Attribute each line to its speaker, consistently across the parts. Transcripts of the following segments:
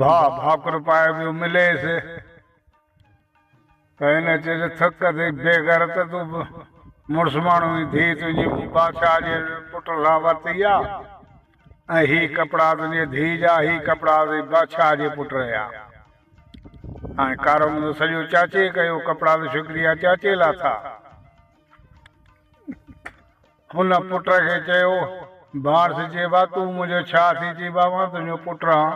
Speaker 1: ڀاء ڀاڪر پائي پيو مليس ته هن چيس ٿڪ اٿئي بيغيرت تون به مڙس ماڻهو هي ڌي تنهنجي مون بادشاهه جي پٽ سان ورتي آ ۽ هي ڪپڙا تنهنجي ڌي جا هي ڪپڙا اٿئي بادشاهه جي پٽ جا هاڻي ڪارو منهندو سڄو چاچي ڪيو ڪپڙا ته شڪريا چاچي لاٿا. هن پٽ کي چيو، باڻس چيو ها تون منهنجو ڇا ٿي چيب ها مان تنهنجو پٽ هان.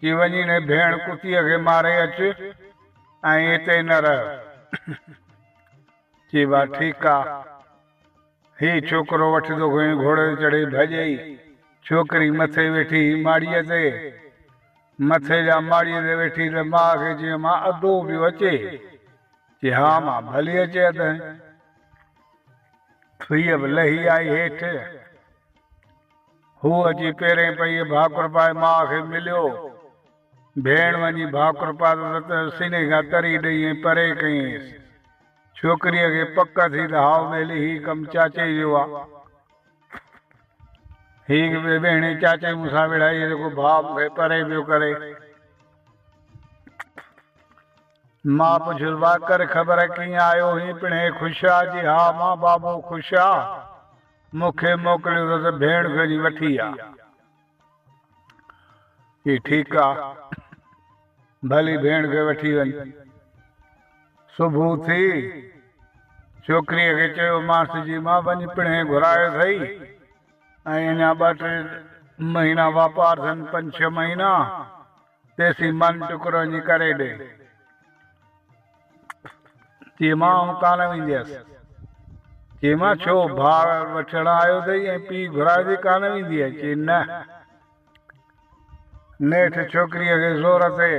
Speaker 1: چي وڃي هن ڀيڻ ڪتيء کي ماري اچ ۽ هتي نه رهه. چيب ها ٺيڪ آ. هي ڇوڪرو وٺي تو کين گهوڙي تي چڙهي ڀڄئي. ڇوڪري مٿي ويٺي هئي ماڙيء تي. مٿي جا ماڙيء تي ويٺي ته ماء کي چيو مان ادو پيو اچي. چي ها مان ڀلي اچي ادهين. ٿئي به لهي آئي هيٺ. هو اچي پيرين پيئي ڀاڪر پائي ماء کي مليو. ڀيڻ وڃي ڀاڪر پاتس ته سيني کان تري ڏئي ۽ پري ڪيئينس. ڇوڪريء کي پڪ ٿي ته هائو ٻيلي هي ڪم چاچي جو آ. هي ڪي ٻهيڻي چاچي مون سان وڙهائي جيڪو ڀاء مون کي پري پيو ڪري. مان پڇيس واڪر خبر ڪيئن آيو هين پڻهين خوش آ جي ها مان بابو خوش آ مون کي موڪليو اٿس ڀيڻ گهري وٺي آ چي ٺيڪ آ ڀلي ڀيڻ کي وٺي وڃ صبح ٿي ڇوڪري کي چيو مانس جي مان وڃ پڻهين گهرايو اٿئي ۽ اڃا ٻه ٽي مهينا واپار اٿن پنج ڇهه مهينا تيسين ماني ٽڪرو وڃي ڪري ڏي. چي مان آئون ڪانه وينديس. چي مان ڇو ڀاء وٺڻ آيو اٿئي ۽ پيء گهرايوٿئي ڪانه وينديء. چي نه. نيٺ ڇوڪريء کي زور تي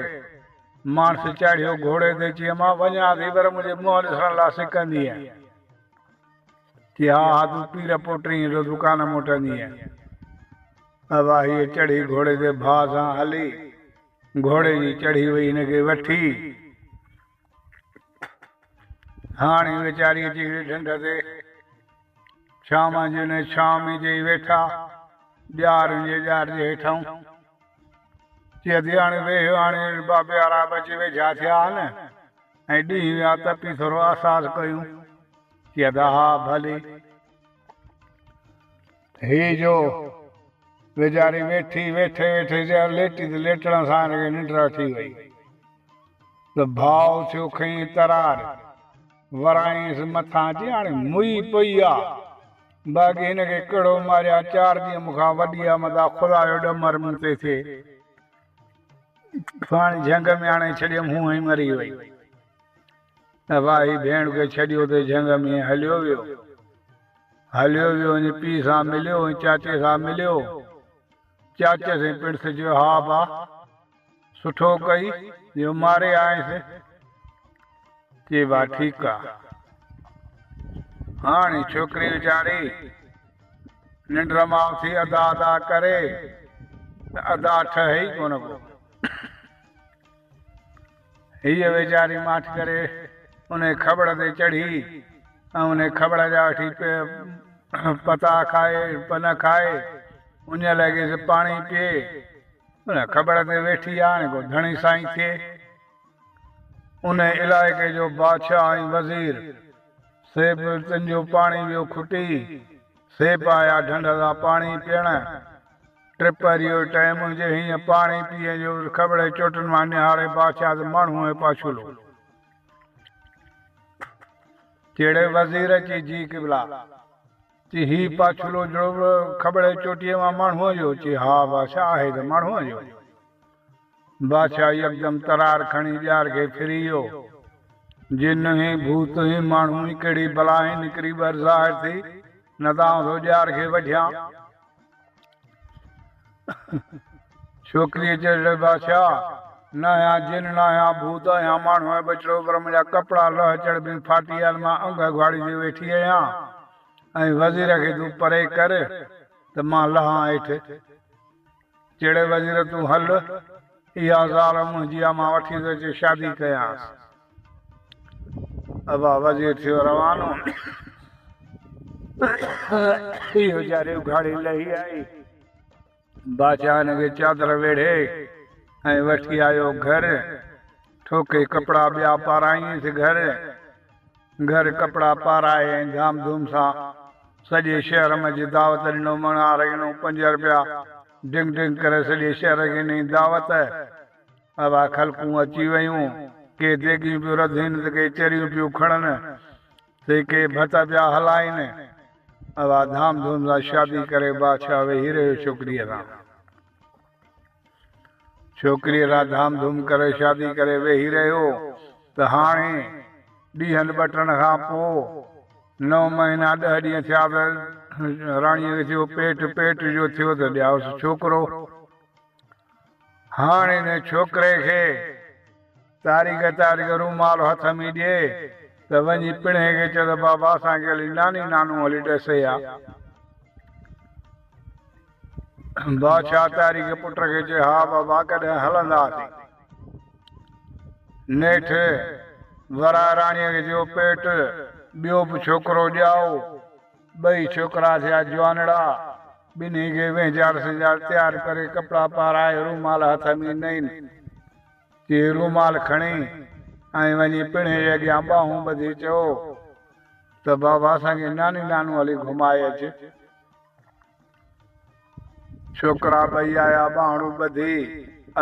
Speaker 1: ماڻس چاڙهيو گهوڙي تي چي مان وڃان ٿي پر منهنجي منهن ڏسڻ لا سڪندينء. ٿي ها ها تون پير پوٽرينء جو دڪان موٽندينء. مواهيء چڙهي گهوڙي تي ڀاء سان هلي گهوڙي جي چڙهي وئي هن کي وٺي. هاڻ هي ويچاري اچي هڪڙي ڍنڍ تي ڇانو جي ان جي ڇانو ۾ جئي ويٺا. ڄار ان جي ڄار جي هيٺئون چي ٿي هاڻي ويهه هاڻي بابي آرا به اچي ويجها ٿيا آهن ۽ ڏينهن ويا تپي ٿورو آساس ڪيون. ڪي ادا ها ڀلي هي جو ويچاري ويٺي ويٺي ويٺي جا ليٽي ته ليٽڻ سان هن کي ننڊ اچي وئي ته ڀاء ٿيو کنئين ترار ورائينس مٿان جي هاڻي موئي پئي آ باقي هن کي ڪهڙو ماريان چار ڏينهن مون کان وڏي آ متان خدا جو ڏمر مون تي ٿئي پاڻي جهنگ ۾ آڻي ڇڏيم هونئن ئي مري وئي نه ڀائي ڀيڻ کي ڇڏيو ته جهنگ ۾ هليو ويو هليو ويو ۽ پيء سان مليو ۽ چاچي سان مليو چاچي سين پڻس چيو ها با سٺو ڪئي جو ماري آئينس چي با ٺيڪ آ هاڻي ڇوڪري ويچاري ننڊ مان اٿي ادا ادا ڪري ته ادا ٺهي ڪونه ڪو هيء ويچاري ماٺ ڪري انهيء کٻڙ تي چڙهي ۽ انهيء کٻڙ جا وٺي پتا کائي، پن کائي، انهيء لاء گيس پاڻي پيئي، انهيء کٻڙ تي ويٺي هاڻي ڪو ڌڻي سائين ٿئي. انهيء علائقي جو بادشاهه ۽ وزير سيپ تنجو پاڻي ويو کٽي، سيپ آيا ڍنڍ تان پاڻي پيئڻ. ٽپ وري اهو ٽئين منهنجي هينئن پاڻي پيئي جو کٻڙي چوٽن مان نهاري بادشاهه ته ماڻهو ۽ پاڇولو جهڙي وزير اچي جي قبلا چي هي پاڇولو جهڙو به کٻڙي چوٽيء مان ماڻهوء جو چي ها بادشاهه آهي ته ماڻهوء جو بادشاهه يڪدم ترار کڻي ڄار کي ڦري ويو جن هين ڀوت هين ماڻهو هين ڪهڙي بلا هين نڪري ٻر ظاهر ٿي نه ته آئون ٿو ڄار کي وڍيان. ڇوڪريء چيو، اڙي بادشاهه! نه اهيان جن، نه اهيان ڀوت، اهيان ماڻهو ۽ ٻچڙو، پر منهنجا ڪپڙا لهه چڙٻيون ڦاٽي آهن، مان انگ اگهاڙي ٿي ويٺي آهيان ۽ وزير کي تون پري ڪر ته مان لهان هيٺ. چيڙي وزير تون هل، اها زال منهنجي آ، مان وٺي ٿو اچي شادي ڪيانس. ابا وزير ٿيو روانو، اهو جاري اگهاڙي لهي آئي. بادشاهه هن کي چادر ويڙهي ۽ وٺي آيو گهر. ٺوڪي ڪپڙا ٻيا پاراينس گهر. گهر ڪپڙا پارائي ۽ ڌام ڌوم سان سڄي شهر منجهه دعوت ڏنو. مڻ آرينو پنج رپيا ڊنگ ڊنگ ڪري سڄي شهر کي ڏني دعوت. اھا خلقون اچي ويون، ڪي ديڳيون پيون رڌين ته ڪي چريون پيون کڻن تي ڪي ڀت پيا ھلائين. اھا ڌام ڌوم سان شادي ڪري بادشاھه ويھي رھيو ڇوڪريء سان. ڇوڪريء سان ڌام ڌوم ڪري شادي ڪري ويھي رھيو ته ھاڻي ڏينھن ٻٽڻ کان پوء نو مھينا ڏھه ڏينھن ٿيا ته راڻيء کي ٿيو پيٽ، پيٽ جو ٿيو ته ڄائوس ڇوڪرو. هاڻ ان ڇوڪري کي تاريخ تاريخ جو رومال هٿ ۾ ڏي ته وڃي پڻهي کي چئو ته بابا اسان کي هلي ناني نانو هلي ڏسي آ. بادشاهه تاريخ پٽ کي چئي ها بابا ڪڏهن هلنداسين. نيٺ وراهه راڻيء کي چيو پيٽ ٻيو به ڇوڪرو ڄائو. ٻئي ڇوڪرا ٿيا جوانڙا. ٻنهي کي وهنجاڙ سهنجاڙ تيار ڪري ڪپڙا پارائي رومال هٿ ۾ ڏنائين. چي هي رومال کڻي ۽ وڃي پيڙهي جي اڳيان ٻانهون ٻڌي چئو ته بابا اسان کي ناني نانو هلي گهمائي اچ. ڇوڪرا ٻئي آيا ٻانهڙون ٻڌي،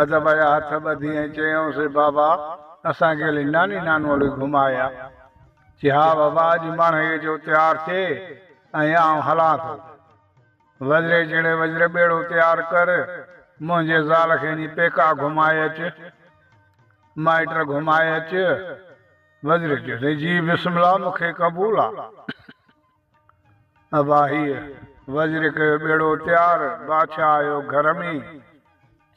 Speaker 1: اڌ ويا هٿ ٻڌي ۽ چيائون سي بابا اسان کي هلي ناني نانو هلي گهماء آ. چي ها بابا اڄ ماڻهيء جو تيار ٿئي ۽ آئون هلان ٿو. وزري جهڙي وزر ٻيڙو تيار ڪر، منهنجي زال کي اڃي پيڪا گهماء اچ، مائٽ گهماء اچ. وزري چيو سائين جي بسم الله مون کي قبول آ. اباهيء وزير ڪيو ٻيڙو تيار، بادشاهه آيو گهر ۾،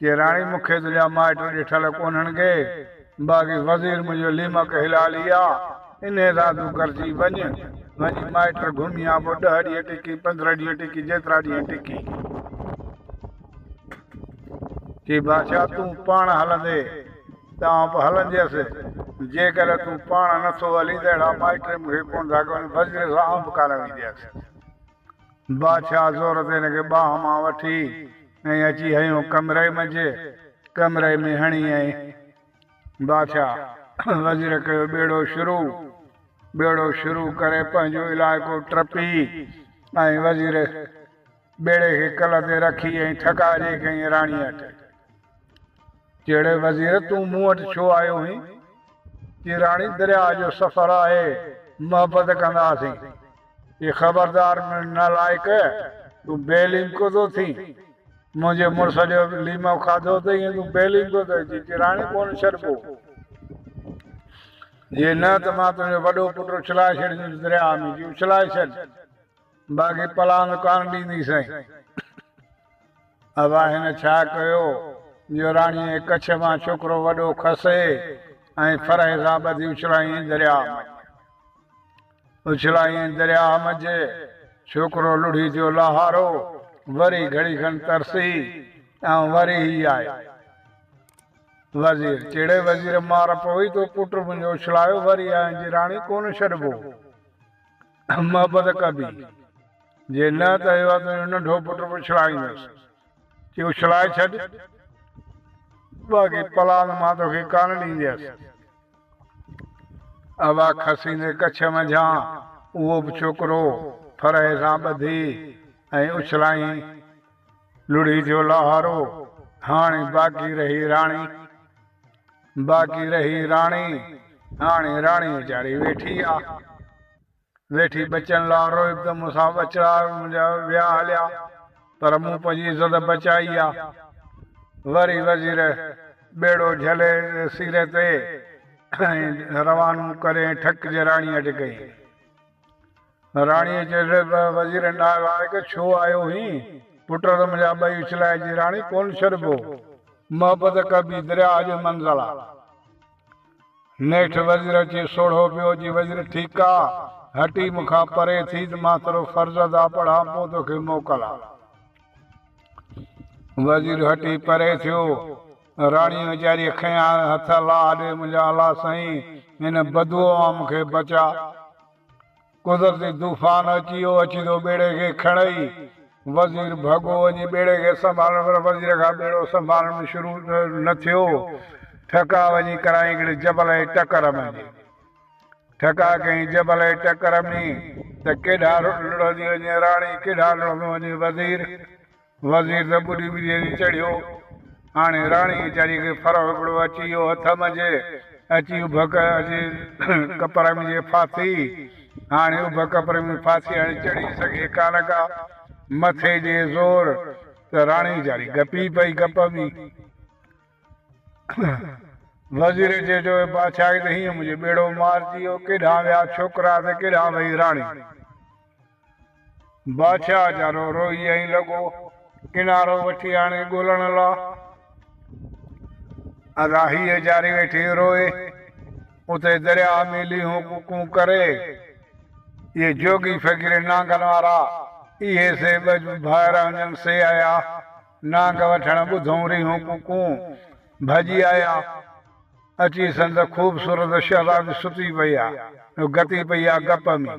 Speaker 1: چي راڻي مون کي تنهنجا مائٽ ڏٺل ڪونهن ڪي، باقي وزير منهنجو ليمڪ هلالي آ، انهيء سان تون گڏجي وڃ، وڃي مائٽ گهمي آ، پوء ڏهه ڏينهن ٽڪي، پندرهن ڏينهن ٽڪي، جيترا ڏينهن ٽڪي. چي بادشاهه تون پاڻ هلندي ته آئون به هلنديس، جيڪڏهن تون پاڻ نه ٿو هلين ته اهڙا مائٽ مون کي ڪونه ٿا ڪن، وزير سان آئون به ڪانه وينديس. بادشاهه زور تي هن کي ٻانهن مان وٺي ۽ اچي هنيو ڪمري منجهه، ڪمري ۾ هڻي ۽ بادشاهه وزير ڪيو ٻيڙو شروع، ٻيڙو شروع ڪري پنهنجو علائقو ٽپي ۽ وزير. ٻيڙي کي ڪل تي رکي ۽ ٿڪاءجي ڪيائين راڻيء اٽي، جهڙي وزير تون مون وٽ ڇو آيو هئين؟ چي راڻي درياء جو سفر آهي، محبت ڪنداسين. چي خبردار نالائق، تون بي ليمڪو ٿو ٿين، منهنجي مڙس جو ليمو کاڌو اٿئي ۽ تون بي ليمڪو ٿو ٿين، چي راڻي ڪونه ڇڏبو، جي نه ته مان تنهنجو وڏو پٽ اڇلائي ڇڏيندس درياء ۾، چي اڇلائي ڇڏ. باقي پلاند ڪانه ڏيندي سائين. ابا هن ڇا ڪيو جو راڻيء ڪڇ مان ڇوڪرو وڏو کسي ۽ فرح سان ٻڌي اڇلايائين درياهه منجهه. اڇلايائين درياهه منجهه. ڇوڪرو لڙهي ٿيو لاهارو. وري گهڙي کن ترسي ۽ وري هي آيو. وزير، چيڙي وزير مار پوي تو پٽ منهنجو اڇلايو وري آهين جي راڻي ڪونه ڇڏبو. محبت ڪبي، جي نه ته اهو تنهنجو ننڍو پٽ به اڇلائيندس. چي اڇلائي ڇڏ، باقي پلان مان توکي ڪانه ڏينديس. اها کسيندي ڪڇ منجهان اهو به ڇوڪرو ڦرهي سان ٻڌي ۽ اڇلائين. لڙهي ٿيو لاهارو، هاڻي باقي رهي راڻي. باقي رهي راڻي، هاڻي راڻي ويچاري ويٺي آ. ويٺي ٻچن لا روئب ته مون سان ٻچڙا منهنجا ويا هليا، پر مون پنهنجي عزت بچائي آ. وري وزير ٻيڙو جهلي سيري تي ۽ روانو ڪرين ٺڪ جي راڻي اٽڪئين. راڻيء چيس، وزيرن ڏانهن لائق ڇو آيو هين؟ پٽ ته منهنجا ٻئي اڇلائي جي راڻي ڪونه ڇڏبو. محبت ڪبي درياء جو منزل آ. نيٺ وزير اچي سوڙهو پيو جي وزير ٺيڪ آ، هٽي مون کان پري ٿي ته مان ٿورو فرض ادا پڙهان پوء توکي موڪل آ. وزير هٽي پري ٿيو. راڻيء ويچاريء کنيان هٿ الله ڏي منهنجا الله سائين هن بدوء مان مون کي بچاء. قدرتي طوفان اچي ويو، اچي ٿو ٻيڙي کي کڻئي. وزير ڀڳو وڃي ٻيڙي کي سنڀالڻ پر وزير کان ٻيڙو سنڀالڻ به شروع نه ٿيو. ٺڪاء وڃي ڪرايئين هڪڙي جبل جي ٽڪر ۾ جي ٺڪاء ڪيئين جبل جي ٽڪر ۾ ته ڪيڏانهن لڙهندي وڃي راڻي ڪيڏانهن لڙهندو وڃي وزير. وزير ته ٻڏي ٻڏي تي چڙهيو. هاڻي راڻي ويچاريء کي ڦرهو هڪڙو اچي ويو هٿ منجهه. اچي اڀ جي ڪپر ۾ جي ڦاسي. هاڻي اڀ ڪپر ۾ ڦاسي هاڻي چڙهي سگهي ڪانه ڪا. مٿي ڏي زور ته راڻي ويچاري گپي پئي گپ ۾. وزير چيو چؤ اي بادشاهه کي ته هينئن منهنجو ٻيڙو مارجي ويو. ڪيڏانهن ويا ڇوڪرا ته ڪيڏانهن وئي راڻي. بادشاهه جا رو روئي ۽ لڳو ڪنارو وٺي آڻي ڳولڻ لا ادا هيء جاري ويٺي روئي اتي درياهه ۾ ليهون ڪون ڪون ڪري اهي جوڳي فقير نانگن وارا اهي سي ٻه جو ڀائر هنجن سي آيا نانگ وٺڻ ٻڌون ريهون ڪون ڪون ڀڄي آيا اچي سندس خوبصورت شهزادي ستي پئي آ جو گتي پئي آ گپ ۾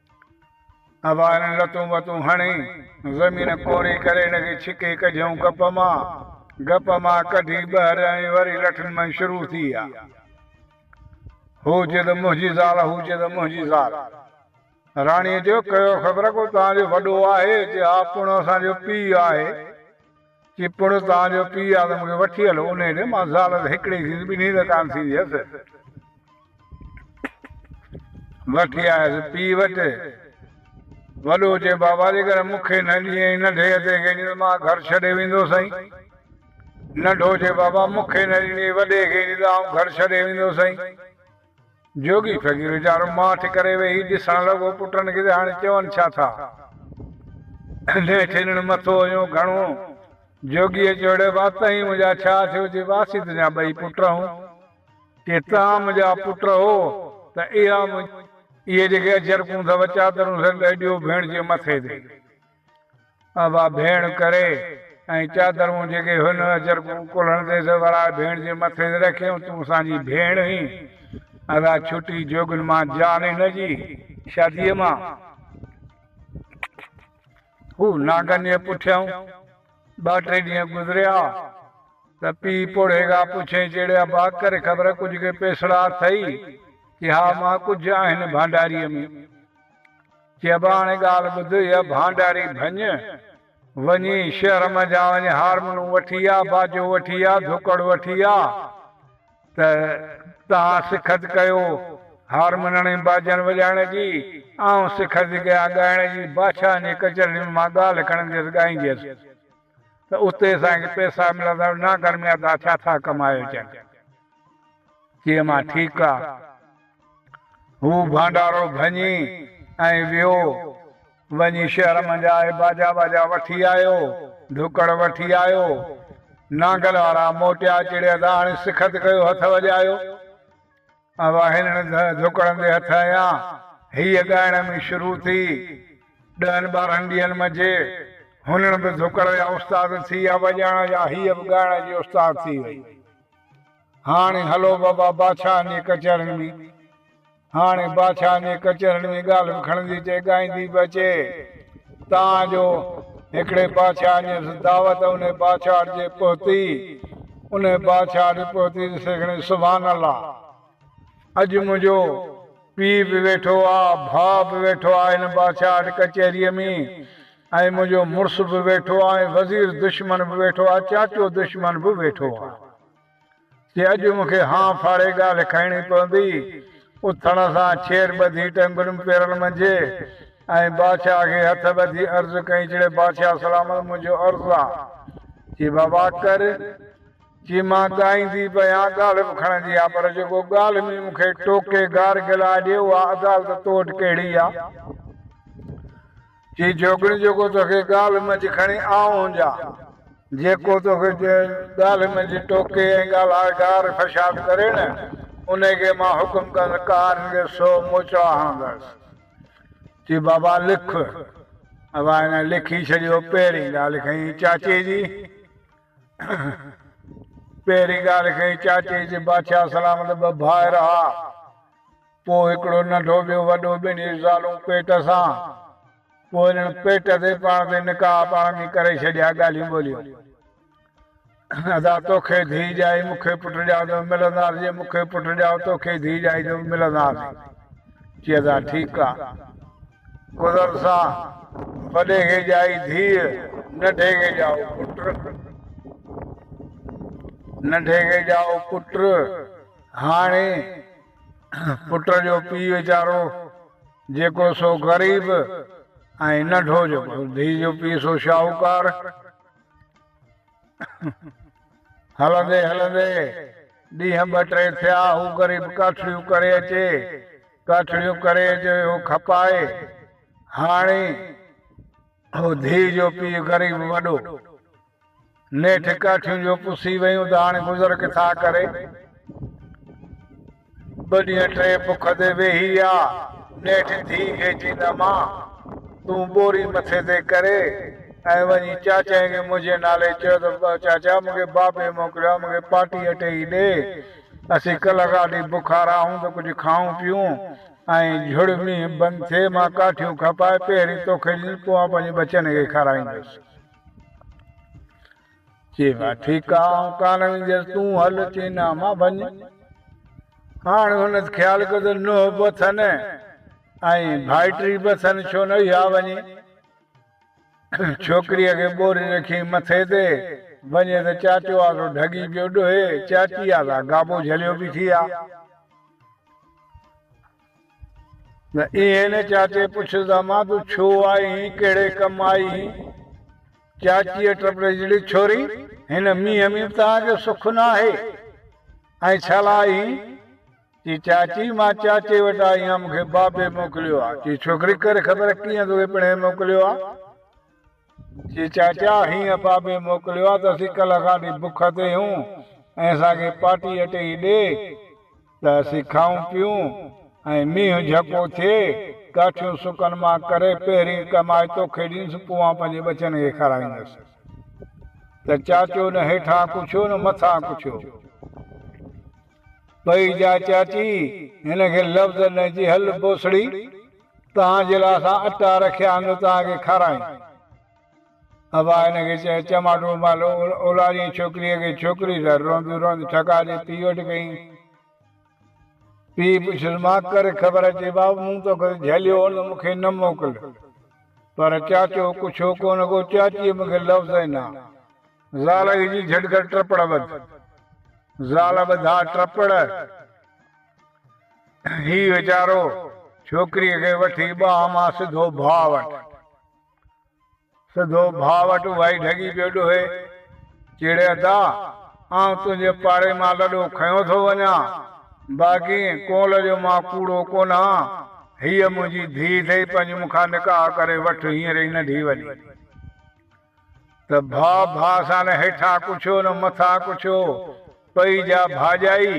Speaker 1: اوهارين لتون وتون هڻي، زمين ڪوري ڪري هن کي ڇڪي ڪڍيائون گپ مان. گپ مان ڪڍي ٻهر ۽ وري لٺن مان شروع ٿي آ. هو چي ته منهنجي زال هو چي ته منهنجي زال. راڻيء چيو، ڪيو خبر ڪو تنهنجو وڏو آهي؟ چي ها پڻ اسان جو پيء آهي. چي پڙهه توهان جو پيء آ ته مون کي وٺي هلو انهيء ڏي، مان زال ته هڪڙي ئي ٿيندس ٻنهي ته ڪانه ٿيندي هيس. وٺي آيس پيء وٽ. وڏو چي بابا جيڪڏهن مون کي نه ڏئين ۽ ننڍي هتي کي ڏيندين ته مان گهر ڇڏي ويندو سائين. ننڍو چي بابا مون کي نه ڏيندين وڏي کي ڏيندو آئون گهر ڇڏي ويندو سائين. جوڳي فقير ويچارو ماٺ ڪري ويهي ڏسڻ لڳو، پٽن کي ته هاڻي چون ڇا ٿا. نهٺين هن مٿو هنيو گهڻو. جوڳيء چيو اڙي وا تهين منهنجا ڇا ٿيو جي واسي تنهنجا ٻئي پٽ هون. جي تهان منهنجا پٽ هو ته اها منهنجي. اهي جيڪي اجرڪون اٿئو چادرون سندس ڏيو ڀيڻ جي مٿي تي. بابا ڀيڻ ڪري ۽ چادرون جيڪي هن اجرڪون ڪلهن تي سوراء ڀيڻ جي مٿي تي رکيون تون اسان جي ڀيڻ هين اسان ڇٽي جوڳين مان جان هن جي شاديء مان هو نانگن جي پٺيان ٻه ٽي ڏينهن گذريا ته پيء پوڙهي کان پڇيائين چيڙي ابا ڪري خبر ڪجهه ڪي پيسڙا اٿئي چي ها ماء ڪجهه آهن ڀانڊاريء ۾ چئبو آ هاڻي ڳالهه ٻڌ هيء ڀانڊاري ڀڃ، وڃي شهر منجهان وڃي هارمونون وٺي آ، باجو وٺي آ، ڌڪڙ وٺي آ ته توهان سکت ڪيو هارمونن ۽ باجن وڄائڻ جي، آئون سکت ڪيان ڳائڻ جي، بادشاهن جي ڪچهرين ۾ مان ڳالهه کڻنديس ڳائينديس. ته اتي اسان کي پئسا ملندا ۽ نه گرميا ته ڇا ٿا ڪمائي اچن؟ چيم مان ٺيڪ آ. هو ڀانڊارو ڀڃي ۽ ويو. وڃي شهر منجهان اهي باجا واجا وٺي آيو، ڍڪڙ وٺي آيو. نانگل وارا موٽيا چڙيا ته هاڻي سکت ڪيو هٿ وڄايو. اھا ھلڻ جھڪڙندي ھٿ ھيان ھيء ڳائڻ ۾ شروع ٿي. ڏھن ٻارھن ڏينھن منجھي ھنن به جھڪڙ جا استاد ٿي ويا وڄائڻ جا ھيء به ڳائڻ جي استاد ٿي وئي. ھاڻي ھلو بابا باڇائن جي ڪچھرين ۾. ھاڻي باڇائن جي ڪچھرين ۾ ڳالھه به کڻندي اچي ڳائيندي به اچي. تان جو هڪڙي بادشاهه جيس دعوت انهي بادشاهه ڙجي پهتي انهي بادشاهه ڙي پهتي ڏسي کڻي سبحان الله اڄ منهنجو پيء به ويٺو آ ڀاء به ويٺو آ هن بادشاهه ڙي ڪچهري ۾ ۽ منهنجو مڙس به ويٺو آ ۽ وزير دشمن به ويٺو آ چاچو دشمن به ويٺو آ. جي اڄ مون کي هانء ڦاڙي ڳالهه کڻڻي پوندي. اٿڻ سان ڇير ٻڌي ٽنگڙيون پيرن منجهي ۽ بادشاهه کي هٿ ٻڌي عرض ڪئي چڙي بادشاهه سلامت منهنجو عرض آ. چي بابا ڪر. چي مان ڳائيندي به آهيان ڳالهه به کڻندي آهيان پر جيڪو ڳالهه ۾ مون کي ٽوڪي گار گلا ڏي اها عدالت تو وٽ ڪهڙي آ. چي جوڳڻي جيڪو توکي ڳالهه منجهه کڻي آئون جا، جيڪو توکي ڳالهه منجهه ٽوڪي ۽ ڳالهائي گار فشاد ڪري نه، انهي کي مان حڪم ڪندس ڪارين کي سو موچڙا هڻندس. چي بابا لک. ابا هن لکي ڇڏيو پهرين ڳالهه کنئي چاچي جي. پهرين ڳالهه کنئي چاچي جي. بادشاهه سلامت ٻه ڀائر ها. پوء هڪڙو ننڍو ٻيو وڏو ٻنهي زالون پيٽ سان پوء انهن پيٽ تي پاڻ تي نڪاح پاڻ ۾ ڪري ڇڏيا ڳالهيون ٻولهيون ادا توکي ڌيء ڄائي مون کي پٽ ڄائو ته ملنداس جي مون کي پٽ ڄائو توکي ڌيء ڄائي ته ملنداس چي ادا ٺيڪ آ گذر سان وڏي کي ڄائي ڌيء ننڍي کي ڄائو پٽ ننڍي کي ڄائو پٽ هاڻي پٽ جو پيء ويچارو جيڪو سو غريب ۽ ننڍو جيڪو ڌيء جو پيء سو شاهوڪار. هلندي هلندي ڏينهن ٻه ٽي ٿيا، هو غريب ڪاٺڙيون ڪري اچي، ڪاٺڙيون ڪري اچي اهو کپائي. هاڻي اهو ڌيء جو پيء غريب وڏو نيٺ ڪاٺيون جو پسي ويون ته هاڻي گذر ڪٿا ڪري. ٻه ڏينهن ٽي بک تي ويهي رهيا. نيٺ ڌيء کي چيائين ته امان! تون ٻوري مٿي تي ڪري ۽ وڃي چاچائي کي منهنجي نالي چئه ته چاچا مون کي بابي موڪليو آهي، مون کي پاٽي اٽي ئي ڏي. اسين ڪلهه کاٽي بکارا آهيون ته ڪجهه کائون پيئون ۽ جھڙ مينهن بند ٿئي مان ڪاٺيون کپائي پهرين توکي ڏيندس پوء آئون پنهنجي ٻچن کي کارائيندس. چيم ها ٺيڪ آ آئون ڪانه وينديس تون هل چين ها مان ڀڃ هاڻ هن خيال ڪيو ته نوح به اٿن ۽ ڀائٽي به اٿن ڇو نه اها وڃي ڇوڪريء کي ٻوري رکي مٿي تي وڃي ته چاچو آسرو ڍڳي پيو ڏوهي چاچي آسرا گابو جهليو بيٺي آ. نه ايئن چاچي پڇيسان مان تون ڇو آئين ڪهڙي ڪم آئين؟ چاچيء ٽپڙي جهڙي ڇوري هن مينهن ۾ توهان جو سک نه آهي ۽ ڇا لاء آئين؟ چي چاچي مان چاچي وٽ آئي آهيان مون کي بابي موڪليو آهي چي ڇوڪري ڪر خبر ڪيئن توکي پڻهي موڪليو آهي؟ جي چاچا هينئن پاپي موڪليو آ ته اسين ڪلهه کان وٺي بک تي هيون ۽ اسان کي پاٽي اٽي ئي ڏي ته اسين کائون پيئون ۽ مينهن جهڪو ٿئي ڪاٺيون سڪن مان ڪري پهرين ڪمائي توکي ڏينس پوء آئون پنهنجي ٻچن کي کارائيندس ته چاچو نه هيٺان ڪڇيو نه مٿان ڪڇيو پئي جا چاچي هن کي لفظ نه جي هل بوسڙي. توهان جي لاء اسان اٽا رکيا آهن جو توهان کي کارائين. ابا هن کي چيو، چماٽو مال اولاريء ڇوڪريء کي ڇوڪري لاء روئنديون روئنديون ٺڪاء جي پيء وٽ ڪيائين. پيء پڇيس، مان ڪري خبر اچي بابا، مون توکي ته جهليو هو نه، مون کي نه موڪل. پر چاچو ڪجهه هو ڪونه ڪو، چاچيء مون کي لفظ ئي نه. زال کي چيس، جهٽ ڪر ٽپڙ ٻڌ. زال ٻڌا ٽپڙ. هي ويچارو ڇوڪريء کي وٺي ٻانهن مان سڌو ڀاء وٽ سڌو ڀاء وٽ وائي ڍڳي پيو ڏوهي، چيڙي ادا، آئون تنهنجي پاڙي مان لڏو کنيو ٿو وڃان، باقي ڪنول جو مان ڪوڙو ڪونهان، هيء منهنجي ڌيء اٿئي، پنهنجي مون کان نڪاح ڪري وٺ، هينئر ئي ننڍي وڏي. ته ڀاء ڀاء سان نه هيٺان ڪڇيو نه مٿان ڪڇيو، پئي جا ڀاڄائي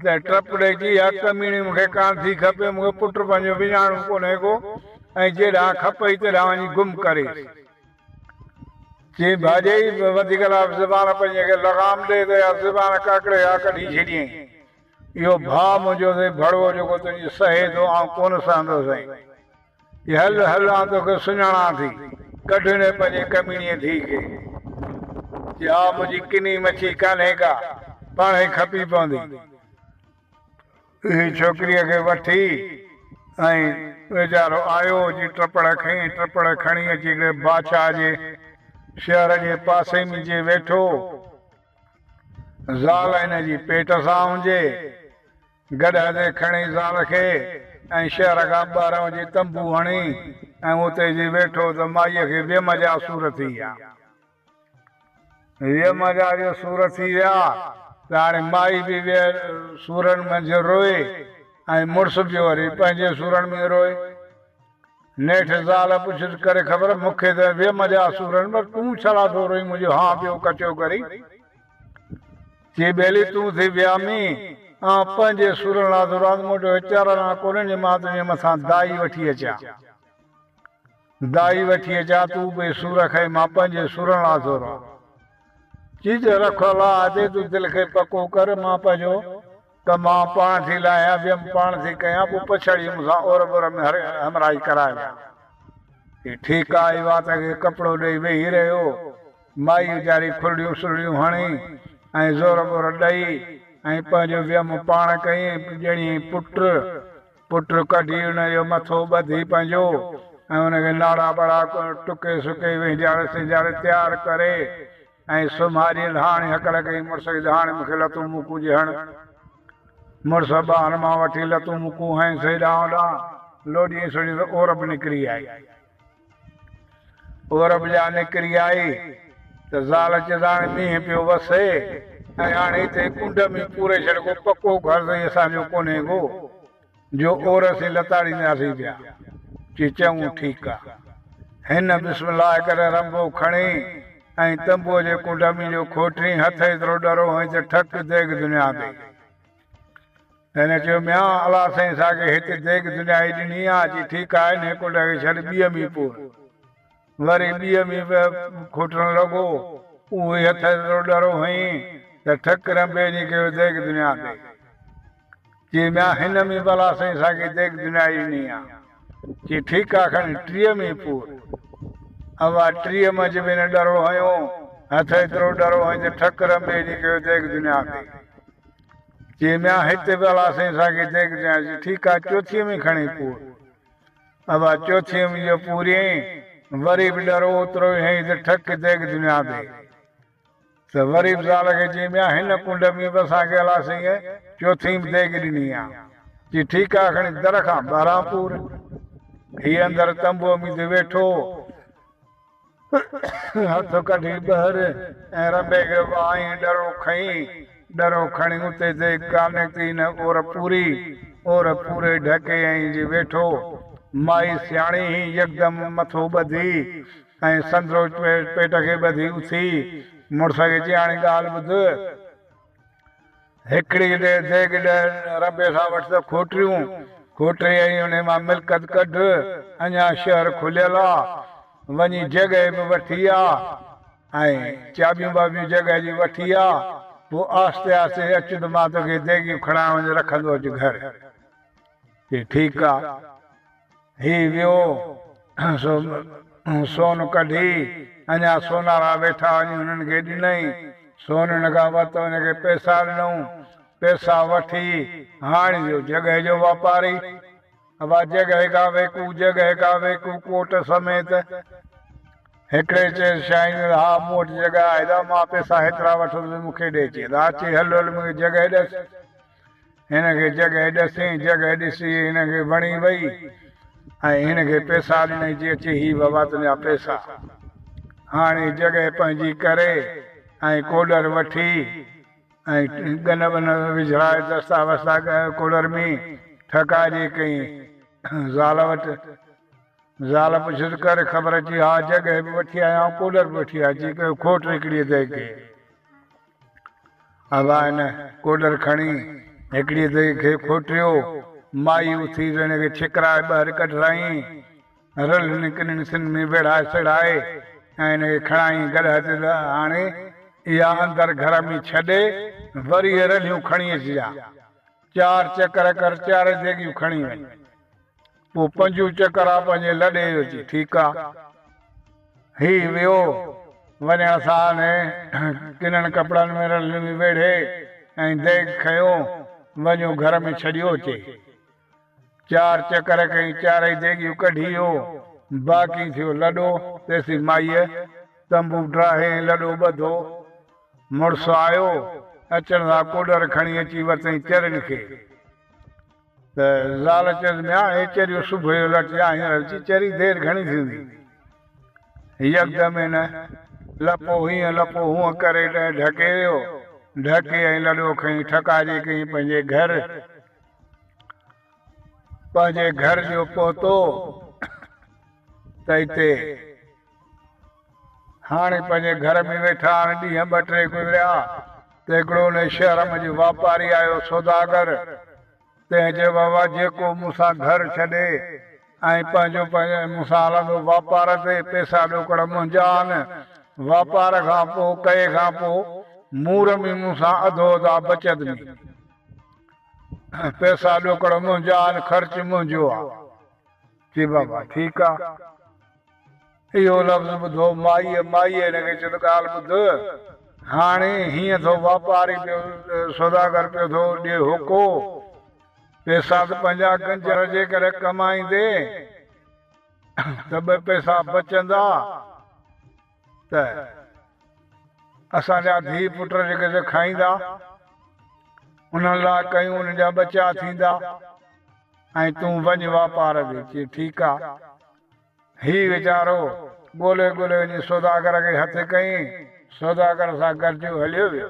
Speaker 1: ته ٽپ ڏئي چئي، اها ڪميڻي مون کي ڪانه ٿي کپي، مون کي پٽ پنهنجو وڃاڻو ڪونهي ڪو ۽ جيڏانهن کپئي تيڏانهن وڃي گم ڪريس. چيائين، ڀاڄائي وڌيڪ لاء به زبان پنهنجي کي لغام ڏي ته اها زبان ڪڪڙي کان ڪڍي ڇڏيائين. اهو ڀاء منهنجو اٿئي ڀڙوو جيڪو تنهنجي سهي ٿو، آئون ڪونه سهندس ۽. هل هل آن توکي سڃاڻان ٿي. ڪڍ هن پنهنجي ڪميڻيء ڌيء کي. جي آء منهنجي ڪني مڇي ڪانهي ڪا، پاڻ هي کپي پوندي. اهي ڇوڪريء کي وٺي ۽ ويچارو آيو جي ٽپڙ کنئي، ٽپڙ کڻي اچي ڪري بادشاهه جي شهر جي پاسي ۾ جي ويٺو. زال هن جي پيٽ سان هنجي. گڏهه تي کڻي زال کي ۽ شهر کان ٻاهرانهون جي تنبو هڻي ۽ اتي جي ويٺو ته مائيء کي ويم جا سور ٿي ويا. ويم جا جو سور ٿي ويا ته هاڻي مائي به ويل سورن منجهه روئي ۽ مڙس به وري پنهنجي سورن ۾ روئي. نيٺ زال پڇيس ڪري خبر مون کي ته ويم جا سورن پر تون ڇالاء ٿو روئين منهنجو هانء پيو ڪچو ڪرين. جي ٻيلي تون ٿي ويا مين. آئون پنهنجي سورن لاء ته راڳ موٽيو اچارڻ لاء ڪونهين جي مان تنهنجي مٿان دائي وٺي اچان. دائي وٺي اچان تون به سور کائين مان پنهنجي سورن لاء ٿو رئان. چيچ رک الله آتي تون دل کي پڪو ڪر مان پنهنجو. ته مان پاڻ ٿي لاهيان ويم پاڻ ٿي ڪيان پوء پڇڙي مون سان اور بر ۾ هر همراهي ڪرائي ويان هي ٺيڪ آهي وات کي ڪپڙو ڏئي ويهي رهيو مائي ويچاري کلڙيون سلڙيون هڻي ۽ زور بور ڏئي ۽ پنهنجو ويم پاڻ ڪيئين ڄڻيئي پٽ پٽ ڪڍي ان جو مٿو ٻڌي پنهنجو ۽ ان کي ناڙا ٻاڙا ٽڪي سڪي وهنجار سهنجار تيار ڪري ۽ سومهاريء لهاڻي هڪل ڪئي، مڙس جي لهاڻي مون کي لتون موڪون جي هڻ. مڙس ٻانهن مان وٺي لتون موڪون هنئيس هيڏانهن هوڏانهن لوڏيئينس سوڙيئينس ته عورب نڪري آئي. عورب جا نڪري آئي ته زال چيس هاڻي مينهن پيو وسي ۽ هاڻي هتي ڪنڊ ۾ پوري ڇڏ ڪو پڪو گهر ته هي اسان جو ڪونهي ڪو. جو اور اسين لتاڙينداسين پيا، چي چڱو ٺيڪ آ. هن بسم الله ڪري رنڀو کڻي ۽ تنبوء جي ڪنڊ ۾ جو کوٽرين هٿ ايترو ڏرو هنئين ته ٺڪ ديڳ دنيا ڏئي. هن چيو ميان الله سائين ساڳي هت ديڳ دنيا ئي ڏني آ، چي ٺيڪ آ هنئين ڪنڊ کي ڇڏ ٻيء ۾ پور. وري ٻيء ۾ به کوٽرڻ لڳو، اهو ئي هٿ ايترو ڏرو هنئين ته ٺڪ رنڀي جي ڪيو ديڳ دنيا ڏئي. چي ميان هن مي ڀلا سائين اسان کي ديگ دنيا ئي ني آ. چي ٺيڪ آ کڻ ٽيهه مي پور. اوا ٽيهه منجهه به نه ڏرو هنيو، هٿ ايترو ڏرو هنئي ته ٺڪ رنبي ئي ني ڪيو ديگ دنيا تي. چي ميان هت ڀلا سائين اسان کي ديگ دنيا چي ٺيڪ آ چوٿينء مي کڻي پور. اوا چوٿينء مي جو پوريئين وري به ڏرو اوترو ئي هنئي ته ٺڪ ديگ دنيا تي. ته غريب زال کي چيم يا هن ڪنڊ ۾ به اسان کي الا سينء چوٿيم ديڳ ڏني يا چي ٺيڪ آ کڻي در کان ٻاهران پور هي اندر تنبوء ۾ ته ويٺو هو هٿ ڪڍي ٻهر ۽ رنبي کي وهائين ڏرو کنئين ڏرو کڻي اتي ديڳ ڪانهي ته هن اور پوري اور پوري ڍڪي ائين جي ويٺو مائي سياڻي هي يڪدم مٿو ٻڌي ۽ سندرو پيٽ کي ٻڌي اٿي مڙس کي چيائين، هاڻي ڳالهه ٻڌ، هڪڙي ديڳ ڏهه رنبي سان وٺ ته کوٽريون کوٽري ۽ انهي مان ملڪت ڪڍ، اڃا شهر کليل آ، وڃي جڳهه به وٺي آ ۽ چاٻيون ٻاٻيون جڳهه جي وٺي آ، پوء آهستي آهستي اچ ته مان توکي ديڳيون کڻائي وڃي رکندو اچ گهر. چي ٺيڪ آ. هي ويو سو سون ڪڍي، اڃا سونارا ويٺا وڃي هنن کي ڏنئي، سون هن کان ورتو هن کي پئسا ڏنئون، پئسا وٺي هاڻ ويو جڳهه جو واپاري، ابا جڳهه کان ويڪو، جڳهه کان ويڪو ڪوٽ سميت، هڪڙي چيس شاهين ۾ ها مون وٽ جڳهه آهي دا مان پئسا هيترا وٺندس مون کي ڏي چي دا اچي هل هل مون کي جڳهه ڏس. هن کي جڳهه ڏسين، جڳهه ڏسي هن کي وڻي وئي ۽ هن کي پيسا ڏنائين چي اچي هي بابا تنهنجا پيسا. هاڻي جڳهه پنهنجي ڪري ۽ ڪوڏر وٺي ۽ ڳن ٻن وجهرائي دستا وستا ڪوڏر ۾ ٺڪائجي ڪئين زال وٽ. زال پڇيس ڪر خبر چي ها جڳهه به وٺي آيا ڪوڏر به وٺي آيا چي ڪيو کوٽ هڪڙي اٿئي ڪي. ابا ان ڪوڏر کڻي هڪڙيء دئي کي کوٽيو. مائي اٿي رڻيء کي ڇڪرائي ٻاهر ڪڍرايائين. رلهن ڪنن سن ۾ ويڙهائي سڙهائي ۽ ان کي کڻائين گڏهه تي آڻي اها اندر گهر ۾ ڇڏي وري اهي رلهيون کڻي اچجان. چار چڪر ڪر چارئي ديڳيون کڻي وڃ. پوء پنجون چڪر آ پنهنجي لڏي جو چي ٺيڪ آ هي ويو وڃڻ ساهه ۾ ڪنن ڪپڙن ۾ رلمي ويڙهي ۽ ديڳ کنيو وڃيو گهر ۾ ڇڏيو چي چار چڪر ڪئي چارئي ديڳيون ڪڍي اهو باقي ٿيو لڏو تيسين مائيء تنبو ڊاهي ۽ لڏو ٻڌو مڙس آيو اچڻ سان ڪوڏر کڻي اچي ورتئين چرين کي. ته زال چيس، ميان هي چريو صبح جو لٽ يا هينئر اچي چري دير گهڻي ٿيندي. يڪدم هن لپو هيئن لپو هونء ڪري ڏهه ڍڪي ويو. ڍڪي ۽ لڏو کڻي ٺڪاجي ڪئين پنهنجي گهر. پنهنجي گهر جو پهتو ته اتي هاڻي پنهنجي گهر ۾ ويٺا آهن. ڏينهن ٻه ٽي گذريا ته هڪڙو انهيء شهر ۾ جو واپاري آيو، سوداگر، تنهن چيو، بابا، جيڪو مون سان گهر ڇڏي ۽ پنهنجو پنهنجو مون سان هلندو واپار تي، پئسا ڏوڪڙ منهنجا آهن، واپار کان پوء، ڪئي کان پوء، مور ۾ مون سان اڌو اڌا بچت ۾. پئسا ڏوڪڙ منهنجا آهن، خرچ منهنجو آهي. چي، بابا، ٺيڪ آهي. اهو لفظ ٻڌو مائيء، مائيء هن کي چيو ته ڳالهه ٻڌ، هاڻي هيئن ٿو واپاري پيو سوداگر پيو ٿو ڏي هوڪو، پئسا ته پنهنجا گنجر جي ڪري ڪمائيندي ته ٻه پئسا بچندا ته اسان جا ڌيء پٽ جيڪي سي کائيندا، انهن لاء ڪيون انهن جا ٻچا ٿيندا ۽ تون وڃ واپار تي، چي ٺيڪ آ. هي ويچارو ڳولي ڳولي وڃي سوداگر کي هٿ ڪيائين. سوداگر سان گڏجيو هليو ويو.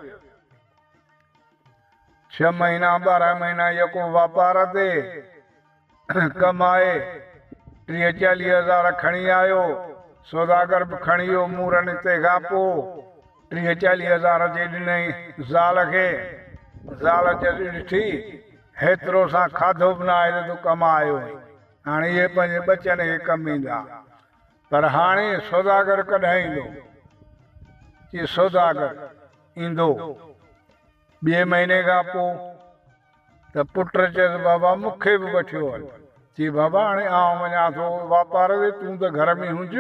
Speaker 1: ڇهه مهينا ٻارهن مهينا يڪو واپار تي ڪمائي ٽيهه چاليهه هزار کڻي آيو. سوداگر به کڻي ويو مورن تي کان پوء ٽيهه چاليهه هزار اچي ڏنائين زال کي. زال جڏهن ڏٺي هيترو سان کاڌو به ناهي ته تون ڪمايو هئين. هاڻي اهي پنهنجي ٻچن کي ڪم ايندا. پر هاڻي سوداگر ڪڏهن ايندو؟ چي سوداگر ايندو ٻئي مهيني کان پوء. ته پٽ چيس بابا مون کي به وٺيو هل. چي بابا هاڻي آئون وڃان ٿو واپار تي تون ته گهر ۾ هونج.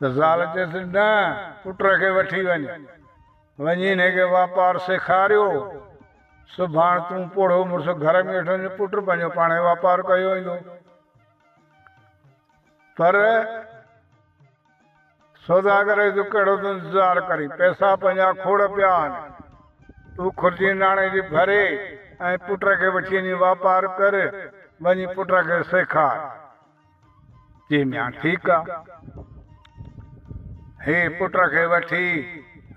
Speaker 1: زال چيس، نه، پٽ کي وٺي وڃ. وڃي هن کي واپار سيکاريو. سڀاڻ تون پوڙهو مڙس گهر ۾ ويٺو هوندين، پٽ پنهنجو پاڻهي واپار ڪيو ويندو. پر سوداگر چيس، تون ڪهڙو ٿو انتظار ڪرين؟ پئسا پنهنجا کوڙ پيا آهن. تون خرچي ناڻي جي ڀري ۽ پٽ کي وٺي وڃي واپار ڪر. وڃي پٽ کي سيکار. چي ميان ٺيڪ آ. هي پٽ کي وٺي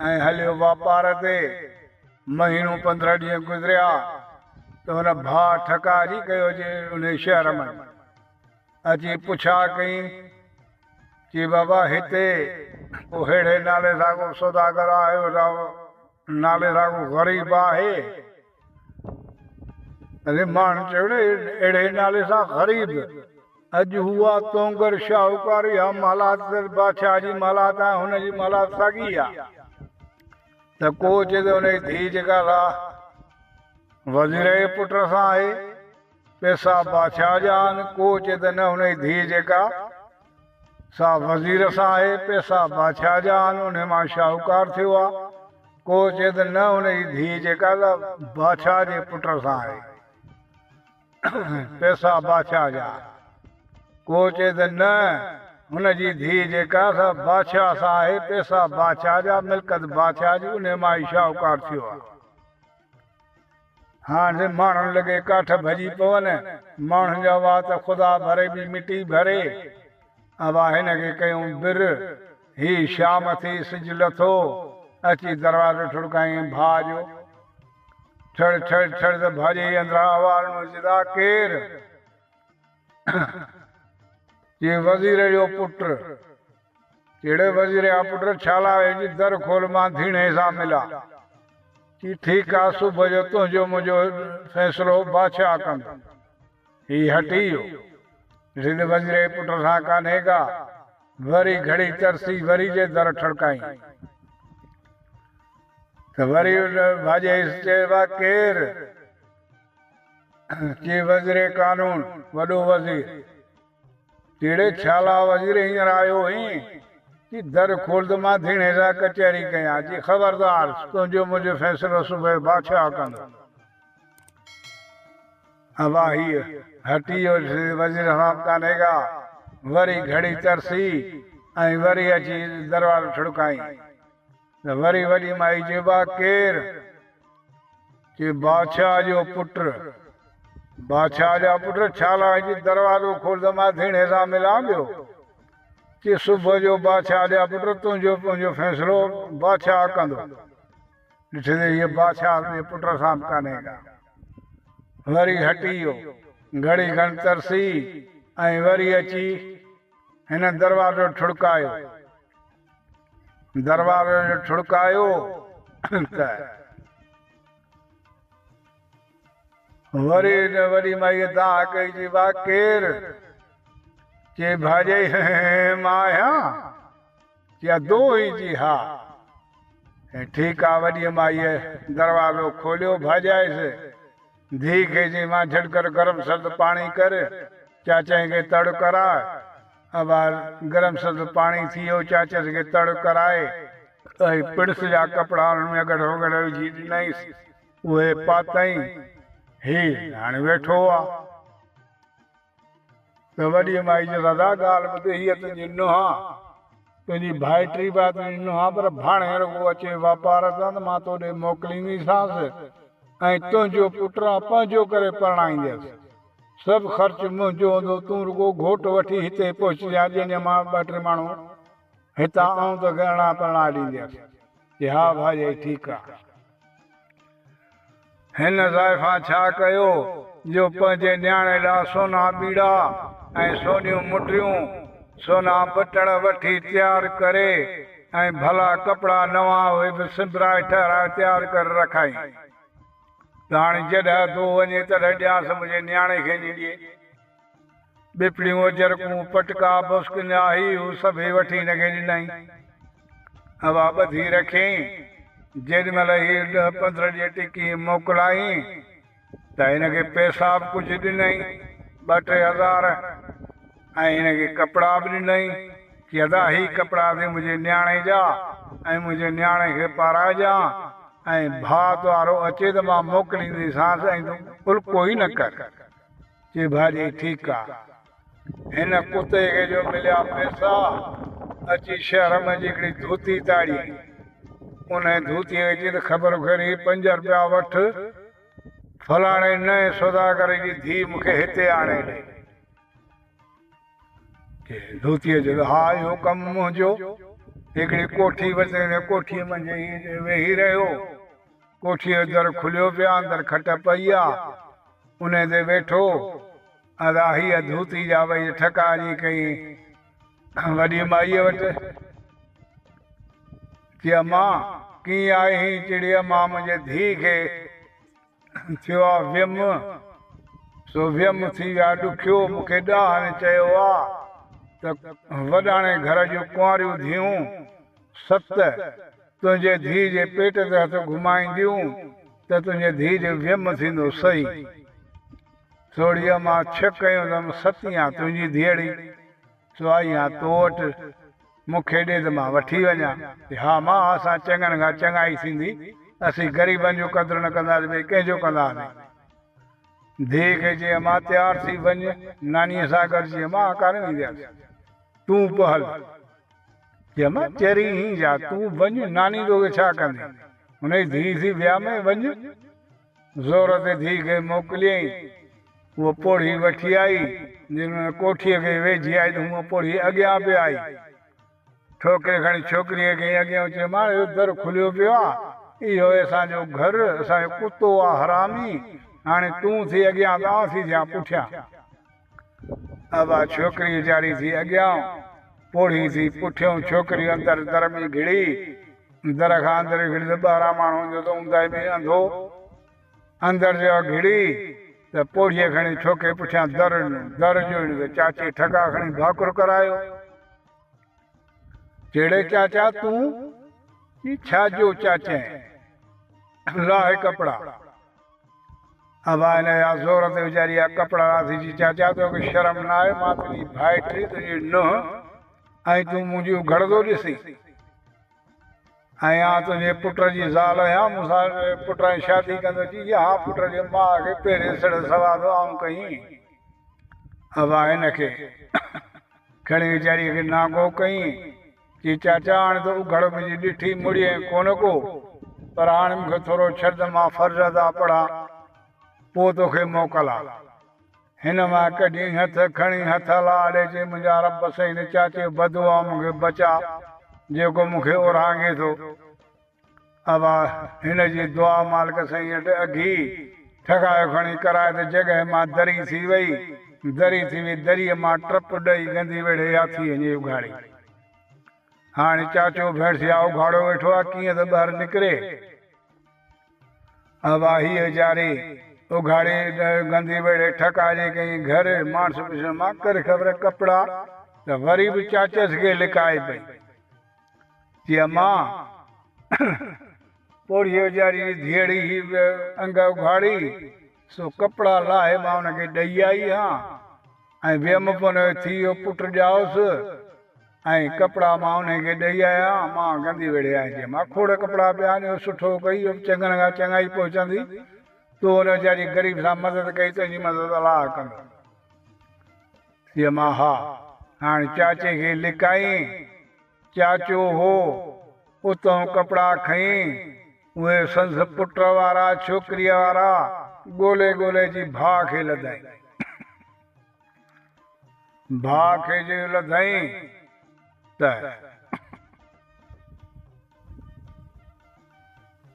Speaker 1: ۽ هليو واپار تي. مهينو پندرهن ڏينهن گذريا ته هن ڀاء ٺڪاء جي ڪيو جي انهي شهر م اچي پڇا ڪئين. چي بابا هتي ڪو ههڙي نالي سان ڪو سوداگر آيو نالي سان ڪو غريب آهي. رحمان جهڙي اهڙي نالي سان غريب اڄ هو آ تونگر شاهوڪار يا محلات سر بادشاهه جي محلات ۽ هن جي محلات ساڳي آ ته ڪو چي ته هن جي ڌيء جيڪا سا وزير جي پٽ سان آهي پئسا بادشاهه جا آهن، ڪو چئي ته نه انهي ڌيء جيڪا سا وزير سان آهي، پئسا بادشاهه جا آهن، انهي مان شاهوڪار ٿيو آ، ڪو چئي ته نه انهي ڌيء جيڪا سا بادشاهه جي پٽ سان آهي، پئسا بادشاهه جا آهن، ڪو چئي ته نه هن جي ڌيء جيڪا سا بادشاهه سان آهي، پئسا بادشاهه جا، ملڪت بادشاهه جي، انهي مان ئي شاهوڪار ٿيو آ. هاڻ جي ماڻهن لڳي ڪاٺ ڀڄي پون، ماڻهن جا وات خدا ڀري به مٽي ڀري. اوهان هن کي ڪيون بر، هي شام ٿي سج لٿو، اچي دروازو ٺڙڪائين ڀاء جو. ٺڙ ٺڙ ٺڙ ته ڀاڄئي اندران اوهارڻو جدا ڪير؟ چي وزير جو پٽ، جهڙي وزير آ پٽ ڇالاء ويجهي در کول مان ڌيڻي سان ملان. چي ٺيڪ آ صبح جو تنهنجو منهنجو فيصلو بادشاهه ڪندو. هي هٽي ويو. ڏٺي ته وزير جي پٽ سان ڪانهي ڪا. وري گهڙي ترسي وري جي در ٺڙڪائين ته وري ڀاڄيس چيس وا ڪير؟ چي وزير قانون وڏو وزير. ڪهڙي خيال آ وزير هينئر آيو هين جي در کولد مان ڌيڻي لاء ڪچهري ڪيان جي خبردار تنهنجو منهنجو فيصلو صبح بادشاهه ڪندو ابا هيء هٽي جو ڏسي وزير حرام ڪانهي ڪا وري گهڙي ترسي ۽ وري اچي دروازو ٺڙڪائين. ته وري وڏي مائي چيو، آء ڪير؟ چي، بادشاهه جو پٽ. بادشاهه جا پٽ ڇا لاء هجي؟ دروازو کول ته مان ڌيڻي سان ملان پيو. چي، صبح جو بادشاهه جا پٽ تنهنجو پنهنجو فيصلو بادشاهه ڪندو. ڏٺي ته هيء بادشاهه جي پٽ سان به ڪانهي ڪا. وري هٽي ويو. گهڙي کن ترسي ۽ وري اچي هن دروازو ٺڙڪايو. دروازي جو ٺڙڪايو ته وري وڏي مائيء داء ڪئي چي وا ڪير چي ڀاڄائي مان آهيان چي ادو هي چي ها ٺيڪ آ وڏي مائيء دروازو کوليو ڀاڄائيس ڌي کي چي مان جھٽ ڪر گرم سرد پاڻي ڪر چاچائي کي تڙ ڪراء احوال، گرم سرد پاڻي ٿي ويو، چاچس کي تڙ ڪرائي اهي پڙس جا ڪپڙا انهن ۾ اگهڙ وگهڙ وجهي ڏنائينس، اهي پاتائين، هي هاڻي ويٺو آ. ته وڏيء مائي چيس، ادا ڳالهه ٻڌ، هيء تنهنجي نونهن آ، تنهنجي ڀائٽي به آ، تنهنجي نونهن آ، پر ڀاڻيهه رڳو اچي واپار تان ته مان توڏي موڪلينديسانس ۽ تنهنجو پٽ آئون پنهنجو ڪري پرڻائينديس. سڀ خرچ منهنجو هوندو، تون رڳو گهوٽ وٺي هتي پهچجانء، جيئن مان ٻه ٽي ماڻهو هتان آئون ته گهرڻا پرڻا ڏينديس. چي، ها ڀائيائي ٺيڪ آ. هن زائفان ڇا ڪيو جو پنهنجي نياڻي لا سونا ٻيڙا ۽ سونيون مٽريون، سونا بٽڻ وٺي تيار ڪري ۽ ڀلا ڪپڙا نوان اهي به سنبرائي ٺهرائي تيار ڪري رکائين. ڄاڻ جڏهن ٿو وڃي تڏهن ڏيانس منهنجي نياڻي کي نينڊيء. ٻپڙيون اجرڪون، پٽڪا، بسڪن يا هي هو سڀئي وٺي هن کي ڏنائين. اها ٻڌي رکيائين. جيڏي مهل هي ڏهه پندرهن ڏينهن ٽڪي موڪلائين ته هن کي پئسا به ڪجهه ڏنائين، ٻه ٽي هزار. ۽ هن کي ڪپڙا به ڏنائين چي ادا هي ڪپڙا ٿي منهنجي نياڻي جا ۽ منهنجي نياڻي کي پارائجان ۽ ڀاء تنهارو اچي ته مان موڪلينديسانس ۽ تون الڪو ئي نه ڪر. چي ڀاڄي ٺيڪ آ. هن ڪتي کي جو مليا پيسا اچي شهر ۾ جي هڪڙي ڌوتي تاڙيائين. انهيء ڌوتيء کي چيائين ته خبر کڻ هي پنج رپيا وٺ فلاڻي نئين سوداگري جي ڌيء مون کي هتي آڻي ڏي. دوتيء چيو، ها اهو ڪم منهنجو. هڪڙي ڪوٺي ورتي ۽ ڪوٺيء منجهه ئي ويهي رهيو. ڪوٺيء جو در کليو پيو آهي، اندر کٽ پئي آهي، انهيء تي ويٺو. ادا هيء دوتي جا وئي ٺڪا اڃي ڪيئي وڏي مائيء وٽ. چي امان! ڪيئي آهين چڙي امان منهنجي ڌيء کي. ٿيو آ ويم سو ويم ٿي ويا ڏکيو مون کي ڏاهاڻي چيو آ ته وڏاڻي گهر جون ڪنواريون ڌيئون ست تنهنجي ڌيء جي پيٽ تي هٿ گهمائينديون ته تنهنجي ڌيء جو ويم ٿيندو سهي سوڙهيء مان ڇڪ هنيو ته ستيان تنهنجي ڌيئڙي سواء يا تو وٽ مون کي ڏي ته مان وٺي وڃان. ها ماء اسان چڱن کان چڱائي ٿيندي اسين غريبن جو قدر نه ڪنداسين ٻئي ڪنهن جو ڪنداسين. ڌيء کي چيائين ماء تيار ٿي وڃ نانيء سان گڏ چيائين مان ڪانه ويندياس تون به هل. چيائين ماء چري هين جا تون وڃ ناني توکي ڇا ڪندي هن جي ڌيء ٿي ويام ۽ وڃ. زور تي ڌيء کي موڪليائين. هوء پوڙهي وٺي آئي. جڏهن هن ڪوٺيء کي ويجهي آئي ته هونء پوڙهي اڳيان پئي آئي. ٺوڪري کڻي ڇوڪريء کي ائين اڳيان اچي ماڻهه اهو در کليو پيو آ. اهو آهي اسان جو گهر. اسان جو ڪتو آ حرامي. هاڻي تون ٿي اڳيان ته آئون ٿي ٿيان پٺيان. اها ڇوڪري اجاڙي ٿي اڳيان، پوڙهي ٿي پٺيون، ڇوڪري اندر در ۾ گهڙي، در کان اندر گهڙي ته ٻاهران ماڻهو ايندو ته اونداهي ۾ انڌو اندر جا گهڙي ته پوڙهيء کڻي ڇوڪري پٺيان در ڏنو، در جو هيڻي ته چاچي ٺڪا کڻي ڀاڪر ڪرايو. چيڙي چاچا تون، چي ڇا جو چاچين، لاهه ڪپڙا، ابا هن جا زور تي ويچاري جا ڪپڙا راٿي چي، چاچا توکي شرم نه آهي، مان تنهنجي ڀائٽي، تنهنجي نونهن ۽ تون منهنجي اگهڙ ٿو ڏسين؟ ۽ آء تنهنجي پٽ جي زال آهيان، مون سان پٽ ۽ شادي ڪندو؟ چي، جي ها پٽ جي ماء کي پيري سڙهه سوا ٿو آئون ڪهين؟ ابا هن کي. کڻي ويچاريء کي نانگو ڪيائين، چيائين، چاچا هاڻ ته اگهڙ به جي ڏٺي مڙي ائين ڪونه ڪو، پر هاڻ مون کي ٿورو ڇڏ ته مان فرض ادا پڙهان، پوء توکي موڪلان. هن مئي ڪڍيائين هٿ، کڻي هٿ هلا آڏي چيائين، منهنجا رب سائين هن چاچي بدوعا مان مون کي بچاء، جيڪو مون کي اورهانگي ٿو. اھا ھن جي دعا مالڪ سائين وٽ اگھي ٺھڪايو کڻي ڪرائي ته جڳهه مان دري ٿي وئي. دري ٿي وئي، دريء مان ٽپ ڏئي گندي ويڙھي ھاٿي ھنجي اگھاڙي. ھاڻي چاچو ڀيڻسيا اگھاڙو ويٺو آھي، ڪيئن ته ٻاھر نڪري. اھا ھيء جاري اگھاڙي گندي ويڙھي ٺھڪائجي ڪئين. گھر ماڻس پڇيو مان ڪري خبر ڪپڙا ته وري به چاچس کي لڪائي پئي. جي اما! پوڙهي اجاري جي ڌيئڙي هي به انگ اگهاڙي، سو ڪپڙا لاهي مان ان کي ڏئي آئي ها ۽ ويم پن اهي ٿي ويو پٽ ڄائوس ۽ ڪپڙا مان انهي کي ڏئي آئي ها، اما گندي ويڙهي آئين جي اما! کوڙ ڪپڙا پيا آهن، اهو سٺو ڪئي، اهو به چڱن کان چڱائي پهچندي، تون ان ويچاري غريب سان مدد ڪئي، تنهنجي مدد الله ڪندو. ڄماء ها، هاڻ چاچي کي لڪائين. چاچو هو، اتئون ڪپڙا کنئين. اهي سندس پٽ وارا، ڇوڪريء وارا، ڳولي ڳولي جي ڀاء کي لڌائين. ڀاء کي جو لڌائين ته.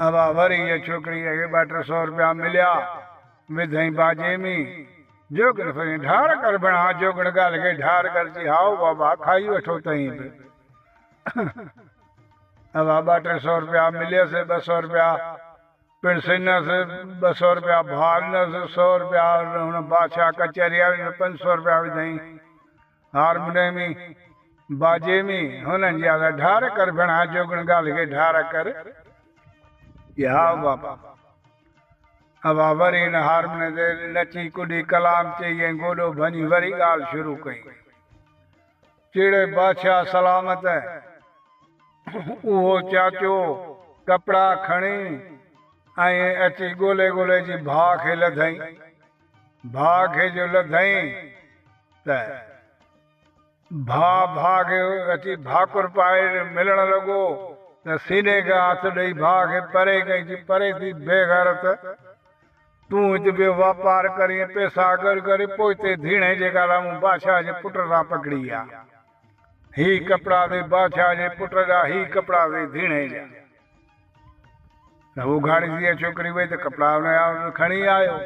Speaker 1: اھا وري اھا ڇوڪري جنھن کي ٻه ٽي سؤ روپيا مليا وڌئين باجي ۾ جوڳڻ ڦرين ڍار ڪر بڻا جوڳڻ ڳالھه کي ڍار ڪر چي ھائو بابا کائي وٺو تئين به اھا ٻه ٽي سؤ روپيا مليس ٻه سؤ روپيا پڻ سنس ٻه سؤ روپيا ڀا ڏنس سؤ روپيا ھن بادشاھ ڪچھري واري ۾ پنج سؤ روپيا وڌئين هارموني ۾ باجي ۾ هونن جي آواز ڍار ڪر ڀيڻا جوڳڻ ڳالهه کي ڍار ڪر يا بابا اوا وري ان هارموني تي نچي ڪڏي ڪلام چئي ۽ گوڏو ڀڃي وري ڳالهه شروع ڪئي چيڙي بادشاهه سلامت اهو چاچو ڪپڙا کڻي ائين اچي ڳولي ڳولي جي ڀاء کي لڌئين ڀاء کي جو لڌئين ته ڀاء ڀاء کي اچي ڀاڪر پائي ملڻ لڳو ته سيني کي هٿ ڏئي ڀاء کي پري ڪئي چي پري ٿي بي غيرت تون هت بي واپار ڪرين پيسا گڏ ڪرين پوء تي ڌيڻي جيڪا لا مون بادشاهه جي پٽ سان پڪڙي آ هي ڪپڙا ٿي بادشاهه جي پٽ جا هي ڪپڙا ٿي ڌيڻي جا ته اگهاڙي ڌيء ڇوڪري وئي ته ڪپڙا هن جا کڻي آيو.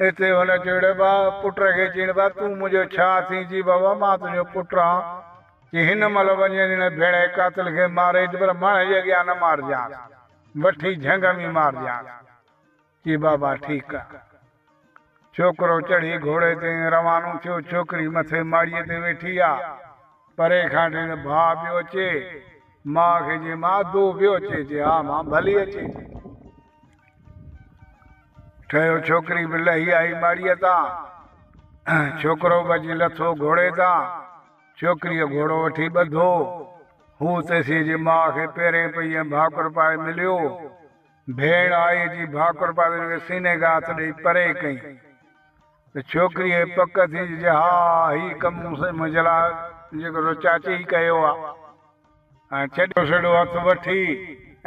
Speaker 1: اتي هن چيو اڙي با! پٽ کي چين با تون منهنجو ڇا ٿين؟ چي بابا مان تنهنجو پٽ آهان. چي هن مهل وڃين هن ڀيڙي قاتل کي ماريج پر ماڻهن جي اڳيان نه مارجانس. وٺي جهنگ ۾ مارجانس. چي بابا ٺيڪ آ. ڇوڪرو چڙهي گهوڙي تي ۽ روانو ٿيو. ڇوڪري مٿي ماڙيء تي ويٺي آ. پري کان ڏٺائين ته ڀاء پيو اچي. ماء کي چين ماء دو پيو اچي؟ چي ها مان ڀلي اچي. ٺهيو ڇوڪري به لهي آئي ماڙيء تان، ڇوڪرو به اچي لٿو گهوڙي تان، ڇوڪريء گهوڙو وٺي ٻڌو، هو تيسين جي ماء کي پيرين پئي ۽ ڀاڪر پائي مليو، ڀيڻ آئي اچي ڀاڪر پائي هن کي سيني کي هٿ ڏئي پري ڪئين ته ڇوڪريء کي پڪ ٿي جي ها هي ڪم منهنجي لاء جيڪو چاچي ئي ڪيو آ. چيڏو سيڙو هٿ وٺي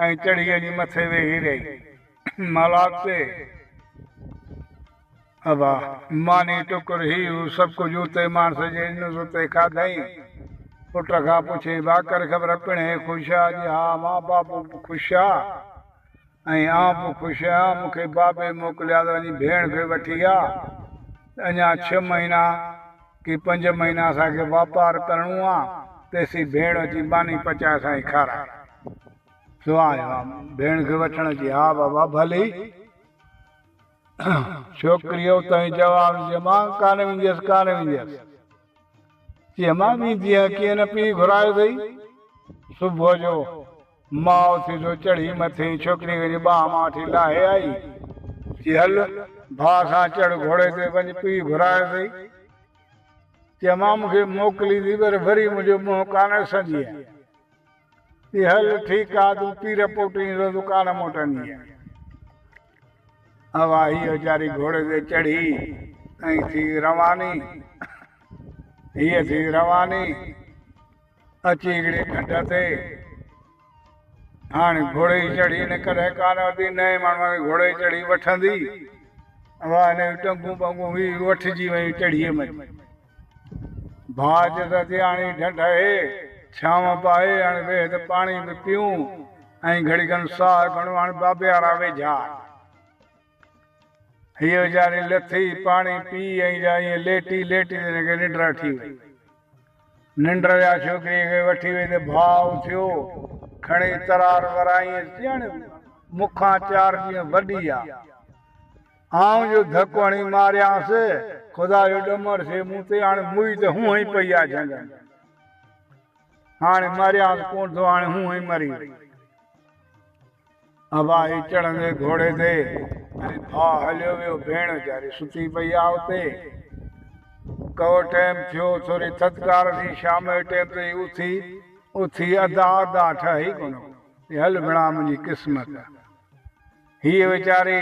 Speaker 1: ۽ چڙهي وڃي مٿي ويهي رهي. مالاک تي ابا ماني ٽڪر هي هو سڀ ڪجهه اتي ماڻس جي نز اتي کاڌئين. پٽ کان پڇي، ڀاڪر خبر پڻهي خوش آ؟ جي ها مان بابو به خوش آ. ۽ آئون به خوش آهيان. مون کي بابي موڪليا ته وڃي ڀيڻ کي وٺي آ. اڃا ڇهه مهينا ڪي پنج مهينا اسان کي واپار ڪرڻو آ. تيسين ڀيڻ اچي ماني پچائي اسان کي کارائي. سو آئون آيو آهيان ڀيڻ کي وٺڻ. چي ها بابا ڀلي. ڇوڪريء اتان ئي جواب ڏنو. چي امان ڪانه وينديس ڪانه وينديس. چي امان ويندينء ڪيئن نه پيء گهرايو اٿئي صبح جو. ماء اٿي جو چڙهي مٿي ڇوڪريء کي ٻانهن مان وٺي لاهي آئي، چي هل، ڀاء سان چڙهه گهوڙي تي، وڃ پيء گهرائي سهي. چيمانء مون کي موڪليندي پر وري منهنجو منهن ڪانه ڏسندينء. چي هل، ٺيڪ آ، تون پير پوٽين سو تون ڪانه موٽندينء. اها هيء ويچاري گهوڙي تي چڙهي ۽ ٿي رواني. هيء ٿي رواني. اچي هڪڙي کنڊ تي هاڻي گهوڙي جي چڙهي هن ڪڏهن ڪانه ورتي، نئين ماڻهوء کي گهوڙي جي چڙهي وٺندي، اها هن جون ٽنگون ٻنگون هي وٺجي ويون چڙهيء ۾. ڀاء چيس، اچي هاڻي ڍنڍ اهي، ڇانو به آهي، هاڻي ويهه ته پاڻي به پيئون ۽ گهڙي کن ساهه کڻون، هاڻي بابيارا ويجها آهي. هيء ويچاري لٿي، پاڻي پيئي ۽ جا ائين ليٽي ليٽي ته هن کي ننڊ اٺي وئي. ننڊ جا ڇوڪريء کي وٺي وئي ته ڀاء اٿيو، کڻي ترار وراينس، ڄڻ مون کان چار ڏينهن وڏي آ. آئون جو ڌڪ هڻي ماريانس، خدا جو ڏمر سي مون تي، هاڻي موئي ته هونء ئي پئي آ جهنگ ۾. هاڻي ماريانس ڪونه ٿو، هاڻي هونء ئي مري وئي. ابا هي چڙهندي گهوڙي تي ۽ ڀاء هليو ويو ڀيڻ ويچاري ستي پئي آ اتي ڪهو ٽيم ٿيو ٿوري ٿڌڪار ٿي شام جي ٽيم تي هي اٿي اٿي ادا ادا ٺهي ئي ڪونه ڪو چي هل ڀيڻا منهنجي قسمت هيء ويچاري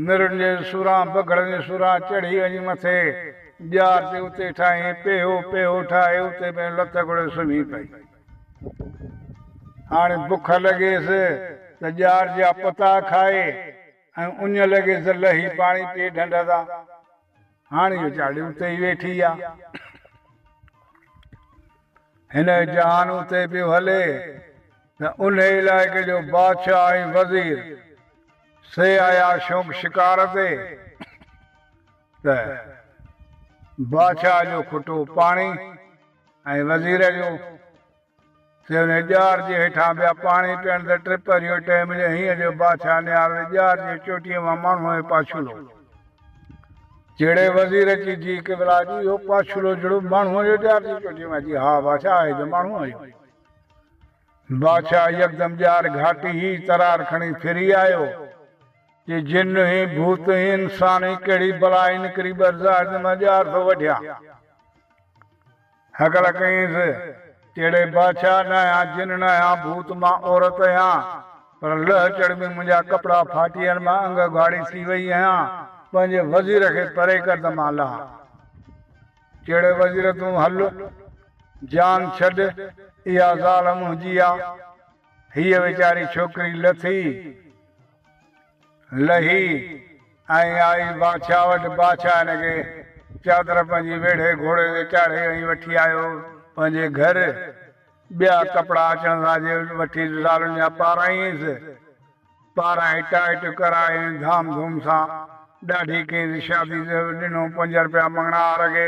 Speaker 1: مرن جي سوران بگهڙن جي سوران چڙهي وڃي مٿي ڄار تي اتي ٺاهين پيهو پيهو ٺاهي اتي پنهنجو لٿ کوڙي سمهي پئي. هاڻي بک لڳيس ته ڄار جا پتا کائي ۽ اڃ لڳيس ته لهي پاڻي پيئي ڍنڍ تان. هاڻ اهو چاڙهي اتي ئي ويٺي آ. هن جو جهان اتي پيو هلي ته انهي علائقي جو بادشاهه ۽ وزير سي آيا شونق شڪار تي ته بادشاهه جو کٽو پاڻي ۽ وزير جون سيون ۽ ڄار جي هيٺان ٻيا پاڻي پيئڻ تي ٽپ اهو ٽئي ملي هينئن جو بادشاهه نيار وي ڄار جي چوٽيء مان ماڻهوء جو پاڇولو جهڙي وزير اچي جي قبلا جي اهو پاڇولو جهڙو ماڻهوء جو ڄار جي چوٽيء مان جي ها بادشاهه آهي ته ماڻهوء جو بادشاهه يڪدم ڄار گهاٽي هي ترار کڻي ڦري آيو جي جن هي ڀوت هي انسان هي ڪهڙي بلا هي نڪري ٻرزا هيڏ ته مان ڄار ٿو وڍيان هڪڙا ڪينس، ڪهڙي بادشاهه ڏانهن يا جن ڏانهن يا ڀوت مان عورت يا پر لئه چڙ ۾ منهنجا ڪپڙا ڦاٽي ۽ مان انگ اگهاڙي ٿي وئي آهيان، پنهنجي وزير کي پري ڪر ته مان لها. چيڙي وزير تون هل، جان ڇڏ، اها زال منهنجي آ. هيء ويچاري ڇوڪري لٿي. لهي ۽ آئي بادشاهه وٽ. بادشاهه هن کي چادر پنهنجي ويڙهي گهوڙي تي چاڙهي ۽ وٺي آيو پنهنجي گهر. ٻيا ڪپڙا اچڻ سان جي وٺي زالن جا پاراينس. پارائي ٽائٽ ڪرائي ۽ ڌام ڌوم سان ڏاڍي ڪينس شادي تي ڏنو پنج رپيا مڱڻهار کي.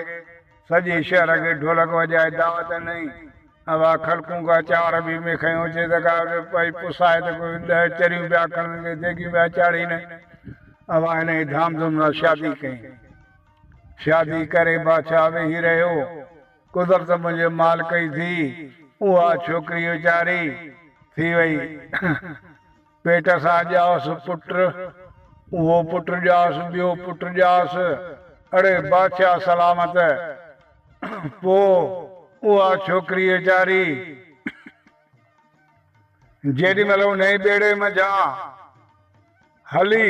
Speaker 1: سڄي شهر کي ڍولڪ وڄائي دعوت ڏنائين. اھا خلقون ڪا چانور ڀي ۾ کنيون اچي ته ڪا پئي پسائي ته ڪو ڏھه چريون پيا کڻن ڪي ديڳيون پيا چاڙھين. اھا انھيء ڌام ڌوم سان شادي ڪيائين. شادي ڪري بادشاھھ ويھي رھيو. قدرت منھنجي مالڪ ئي ٿي. اھا ڇوڪري ويچاري ٿي وئي. پيٽ سان ڄائس پٽ، اهو پٽ ڄائس ٻيو پٽ ڄائس، اڙي بادشاهه سلامت! پوء اها ڇوڪري ويچاري جيڏي مهل انهيء ٻيڙي منجهان هلي.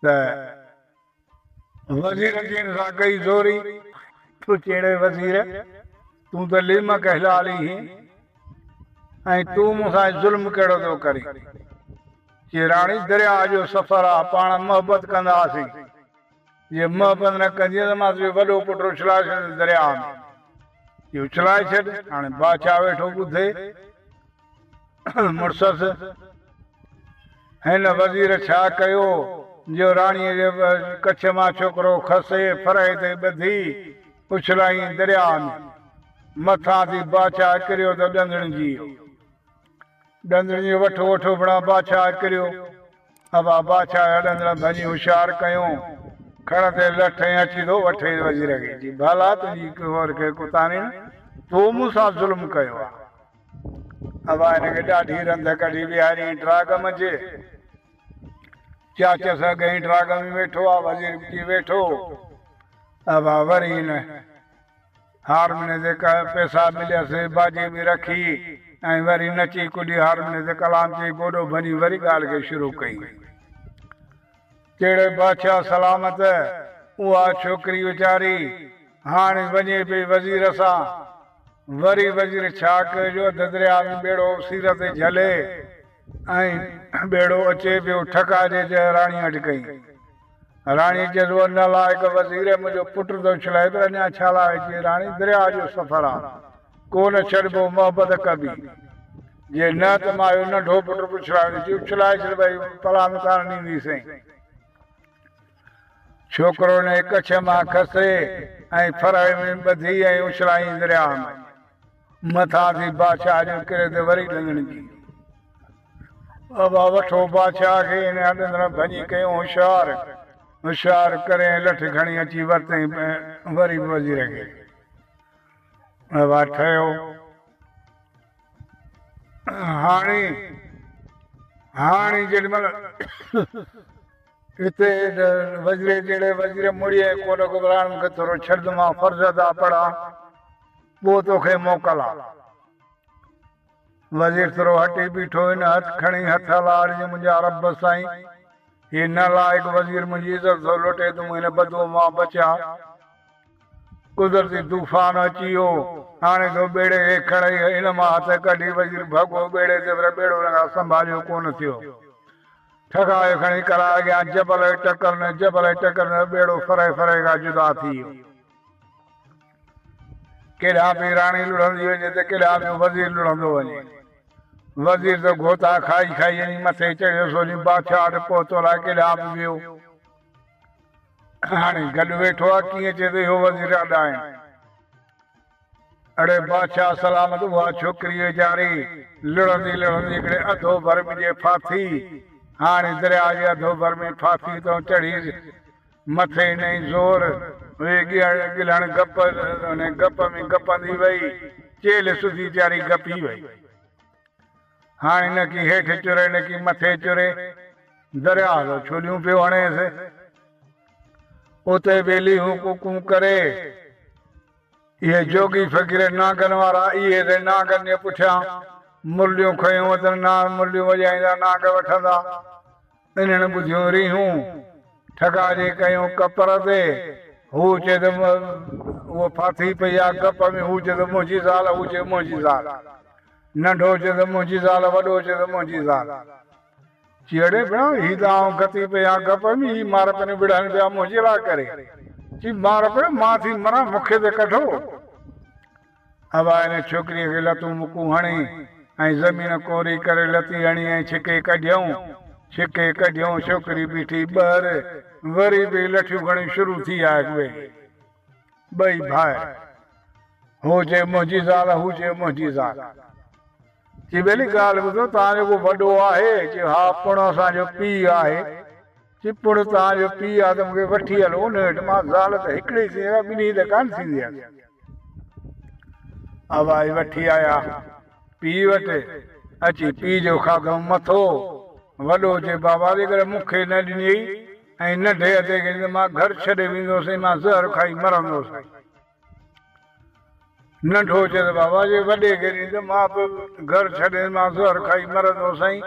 Speaker 1: ته وزير جين سان ڪئي زوري، تو چيڙي وزير، تون ته ليمڪ هلالي هين ۽ تون مون سان ظلم ڪهڙو ٿو ڪرين؟ چي راڻي درياء جو سفر آ، پاڻ محبت ڪنداسين، جي محبت نه ڪندينء ته مان تنهنجو وڏو پٽ اڇلائي ڇڏيندس درياء ۾، چي اڇلائي ڇڏ، هاڻي بادشاهه ويٺو ٻڌي. مڙسس، هن وزير ڇا ڪيو جو راڻيء جي ڪڇ مان ڇوڪرو کسي ڦرهي تي ٻڌي اڇلايائين درياء ۾. مٿان ٿي بادشاهه ڪريو ته ڏندڻ جي ويو. ڏندڻ جي وٺ وٺ اڀڻا بادشاهه ڪريو. اڀا بادشاهه جا ڏندڻ ڀڃي هوشيار ڪيو. کڙ تي لٺ ۽ اچي ٿو وٺين وزير کي. چي، ڀلا تنهنجي ڪهور کي ڪتانين تو مون سان ظلم ڪيو آ. ابا هن کي ڏاڍي رنڌ ڪڍي ويهاريائين ٽراڳ منجهه. چاچس اڳهين ٽراڳ ۾ ويٺو آ، وزير به اچي ويٺو. ابا وري هن هارموني تي ڪا پيسا مليس، باجي به رکي ۽ وري نچي ڪڏي هارموني تي ڪلام چئي گوڏو ڀڃي وري ڳالهه کي شروع ڪئي. ڪهڙي بادشاهه سلامت اها ڇوڪري ويچاري هاڻ وڃي پئي وزير سان وري وزير ڇا ڪيو جو اڌ درياء ۾ ٻيڙو سير تي جهلي ۽ ٻيڙو اچي پيو ٺڪا جي جئه راڻي وٽ ڪئي راڻي چيس اهو نالائق وزير منهنجو پٽ ٿو اڇلائي ته اڃا ڇا لاء اچي راڻي درياء جو سفر آ ڪو نه ڇڏبو محبت ڪبي جي نه ته مان اهو ننڍو پٽ اڇلائي وجهي اڇلائي ڇڏبائي پلا ۾ ڪانه ڏيندي سين. ڇوڪرو نئي ڪڇ مان کسي ۽ ڦرهي ۾ ٻڌي ۽ اڇلايائين درياء ۾. مٿان ٿي بادشاهه جو ڪري ته وري ڏندڻ جي. بابا وٺو بادشاهه کي هن کان ڏندڻ ڀڃي ڪيون هوشيار هوشيار ڪري ۽ لٺ کڻي اچي ورتائين وري به وزير کي. اهوا ٺهيو هاڻي هاڻي جيڏي مهل هتي وزير جهڙي وزير مڙي ڪوٽ گذران کي ٿورو ڇڏ مان فرض ادا پڙا پوء توکي موڪل آ وزير ٿورو هٽي بيٺو هن هٿ کڻي هٿ هلاڙ جي منهنجا رب سائين هي نه لائق وزير منهنجي عزت ٿو لٽي تون هن بدوء مان بچاء قدرتي طوفان اچي ويو هاڻي ٿو ٻيڙي کي کڻئي ان مان هٿ ڪڍي وزير ڀڳو ٻيڙي تي پر ٻيڙو ان کان سنڀاليو ڪونه ٿيو ٺڪايو کڻي ڪلاء اڳيان جبل کي ٽڪر نه جبل کي ٽڪر نه ته ٻيڙو ڦري ڦري کان جدا ٿي ويو. ڪيڏانهن به راڻي لڙهندي وڃي ته ڪيڏانهن ٻيو وزير لڙهندو وڃي. وزير ته گوتا کائي کائي اڃي مٿي چڙهيو سوجي بادشاهه وٽ پهتو الائي ڪيڏانهن به ويو. هاڻي گڏ ويٺو آهي ڪيئن چئي ته اهو وزير اڏائين. اڙي بادشاهه سلامت اها ڇوڪري ويچاري لڙهندي لڙهندي هڪڙي اڌو ڀر ۾ جي ڦاٿي هاڻي درياء جي اڌو ڀر ۾ ڦاٿي تون چڙهيس. مٿي ڏنئين زور، اهي ڳلهڻ گپ، ان گپ ۾ گپندي وئي، چيلهه سڌي چاري گپي وئي. هاڻي نڪي هيٺ چري، نڪي مٿي چري، درياء تان ڇوليون پيو هڻيس. اتي به ليهون ڪوڪون ڪري. اهي جوڳي فقير نانگن وارا اهي سين نانگن جي پٺيان مرليون کنيون اٿن، نانگ مرليون وڄائيندا، نانگ وٺندا. انهن ٻڌيون ريهون ٺڳا جي ڪيون ڪپر تي. هو چئي ته هوء ڦاٿي پئي آ گپ ۾. هو چئي ته منهنجي زال، هو چئي منهنجي زال. ننڍو چئي ته منهنجي زال، وڏو چئي ته منهنجي زال. چيئڙي ڀيڻا، هي ته آئون گتي پئي آ گپ ۾، هي مار پنيون وڙهن پيا منهنجي لاء ڪري. چي مار پيو مان ٿي مران، مون کي ته ڪڍو. ابا ان ڇوڪريء کي لتون مڪون هڻي ۽ زمين ڪوري ڪري لتي هڻي ۽ ڇڪي ڪڍيائون. ڇڪي ڪڍيائون ڇوڪري بيٺي ٻهر وري به لٺيون کڻي شروع ٿي آهي اهي ٻئي ڀائر هو چئي منهنجي زال هو چئي منهنجي زال چي ٻيلي ڳالهه ٻڌو توهان جو ڪو وڏو آهي چيو ها پڻ اسان جو پيء آهي چپڙ تان جو پيء آ ته مون کي وٺي هل ان وٽ، مان زال ته هڪڙي ئي ٿيندي آ، ٻنهي ته ڪانه ٿيندي آ. ابائي وٺي آيا پيء وٽ، اچي پيء جو کاڌئون مٿو، وڏو چئي بابا جيڪڏهن مون کي نه ڏنيئي ۽ ننڍي ادي کي ڏنيئي ته مان گهر ڇڏي ويندو هوس ۽ مان زهر کائي مرندو هوس. ننڍو هجي ته بابا جي وڏي گيڏي ته مان به گهر ڇڏي مان زهر کائي مرندو سائين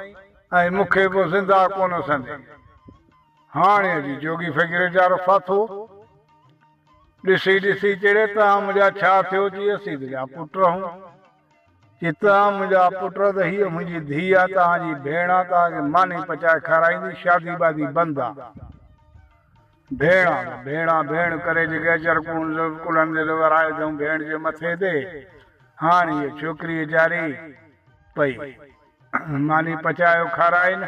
Speaker 1: ۽ مون کي به زنده ڪونه سندي. هاڻي اڄ جوڳي فقير ويچارو ڦاٿو ڏسي ڏسي چيڙي تان منهنجا ڇا ٿيو جي اسين تنهنجا پٽ رهون جي تان منهنجا پٽ ته هيء منهنجي ڌيء آ تان جي ڀيڻ آ تان کي ماني پچائي کارائيندي شادي بادي بند آ. ڀيڻ آن ڀيڻ آن ڀيڻ ڪري جيڪي اجهر ڪون زلف ڪلهن تي ته ورهائي اٿئون ڀيڻ جي مٿي تي هاڻ هيء ڇوڪري اجهاري پئي ماني پچايو کارائين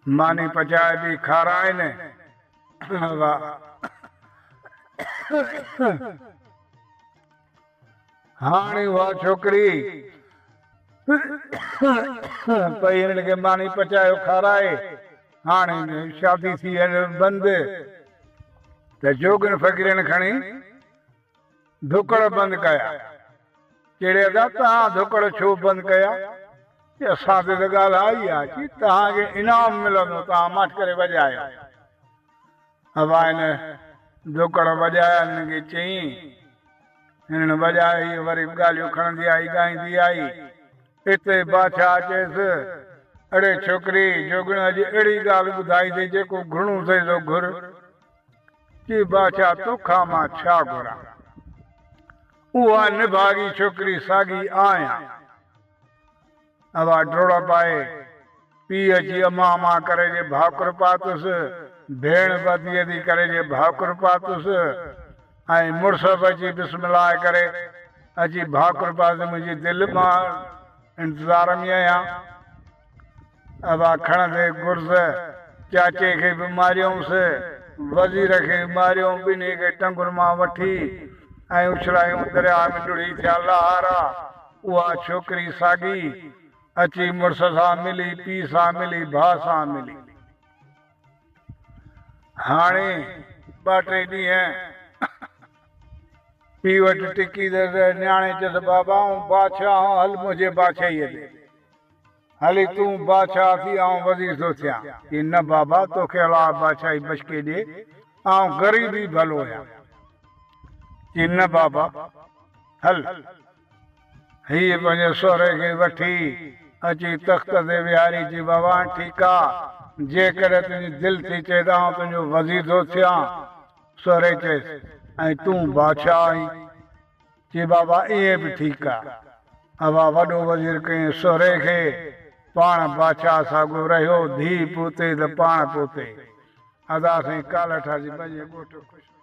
Speaker 1: ماني پچائي بي کارائين واهه. هاڻي اها ڇوڪري پئي هن کي ماني پچايو کارائي. هاڻي شادي ٿي هل بند ته جوڳن فقيرن کڻي ڌڪڙ بند ڪيا. چيڙي ادا توهان ڌڪڙ ڇو بند ڪيا؟ چي اسان تي ته ڳالهه آئي آ. چي توهان کي انعام ملندو توهان ماٺ ڪري وڄايو. هوائن ڌوڪڙ وڄايا هنن کي چيائين. هنن وڄايا هيء وري به ڳالهيون کڻندي آئي ڳائيندي آئي. ايتري ئي بادشاهه چيس، اڙي ڇوڪري، جوڳڻ اڄ اهڙي ڳالهه ٻڌائي اٿئي جيڪو گهرڻو اٿئي سو گهر. چي بادشاهه توکان مان ڇا گهران؟ اها نڀاڳي ڇوڪري ساڳي آهيان. اها ڊوڙپ آهي پيء جي امان امان ڪري جي ڀاڪر پاتس، ڀيڻ به ادي ادي ڪري جي ڀاڪر پاتس ۽ مڙس به اچي بسم الله ڪري اچي ڀاڪر پاتس منهنجي دل مان انتظار ۾ آهيان اها کڻندي گرز چاچي کي به ماريومس وزير کي به ماريوم ٻنهي کي ٽنگن مان وٺي ۽ اڇلايون درياء ۾ ڊڙهي ٿيا لهارا. اها ڇوڪري ساڳي اچي مڙس سان ملي، پيء سان ملي، ڀاء سان ملي. هاڻي ٻه ٽي ڏينهن پيء وٽ ٽڪي ته نياڻي چيس، بابا آئون بادشاهه آهيان، هل منهنجي بادشاهيء ۾. هلي تون بادشاهه ٿي، آئون وزير ٿو ٿيان. چي، نه بابا، توکي الاهه بادشاهي بشڪي ڏي، آئون غريب ئي ڀلو آهيان. چي، نه بابا، هل. هيء پنهنجي سهري کي وٺي اچي تخت تي ويهاري چي، بابا ٺيڪا، جيڪڏهن تنهنجي دل ٿي چئي ته آئون تنهنجو وزير ٿو ٿيان. سهري چيس، ۽ تون بادشاهه آهين؟ چي، بابا ائين به ٺيڪ آ. اها وڏو وزير ڪيائين سهري کي، پاڻ بادشاهه ساڳيو رهيو، ڌيء پوتي ته پاڻ پوتي. ادا سائين ڪالهه ٺاسي پنهنجي ڳوٺ خوش رهو.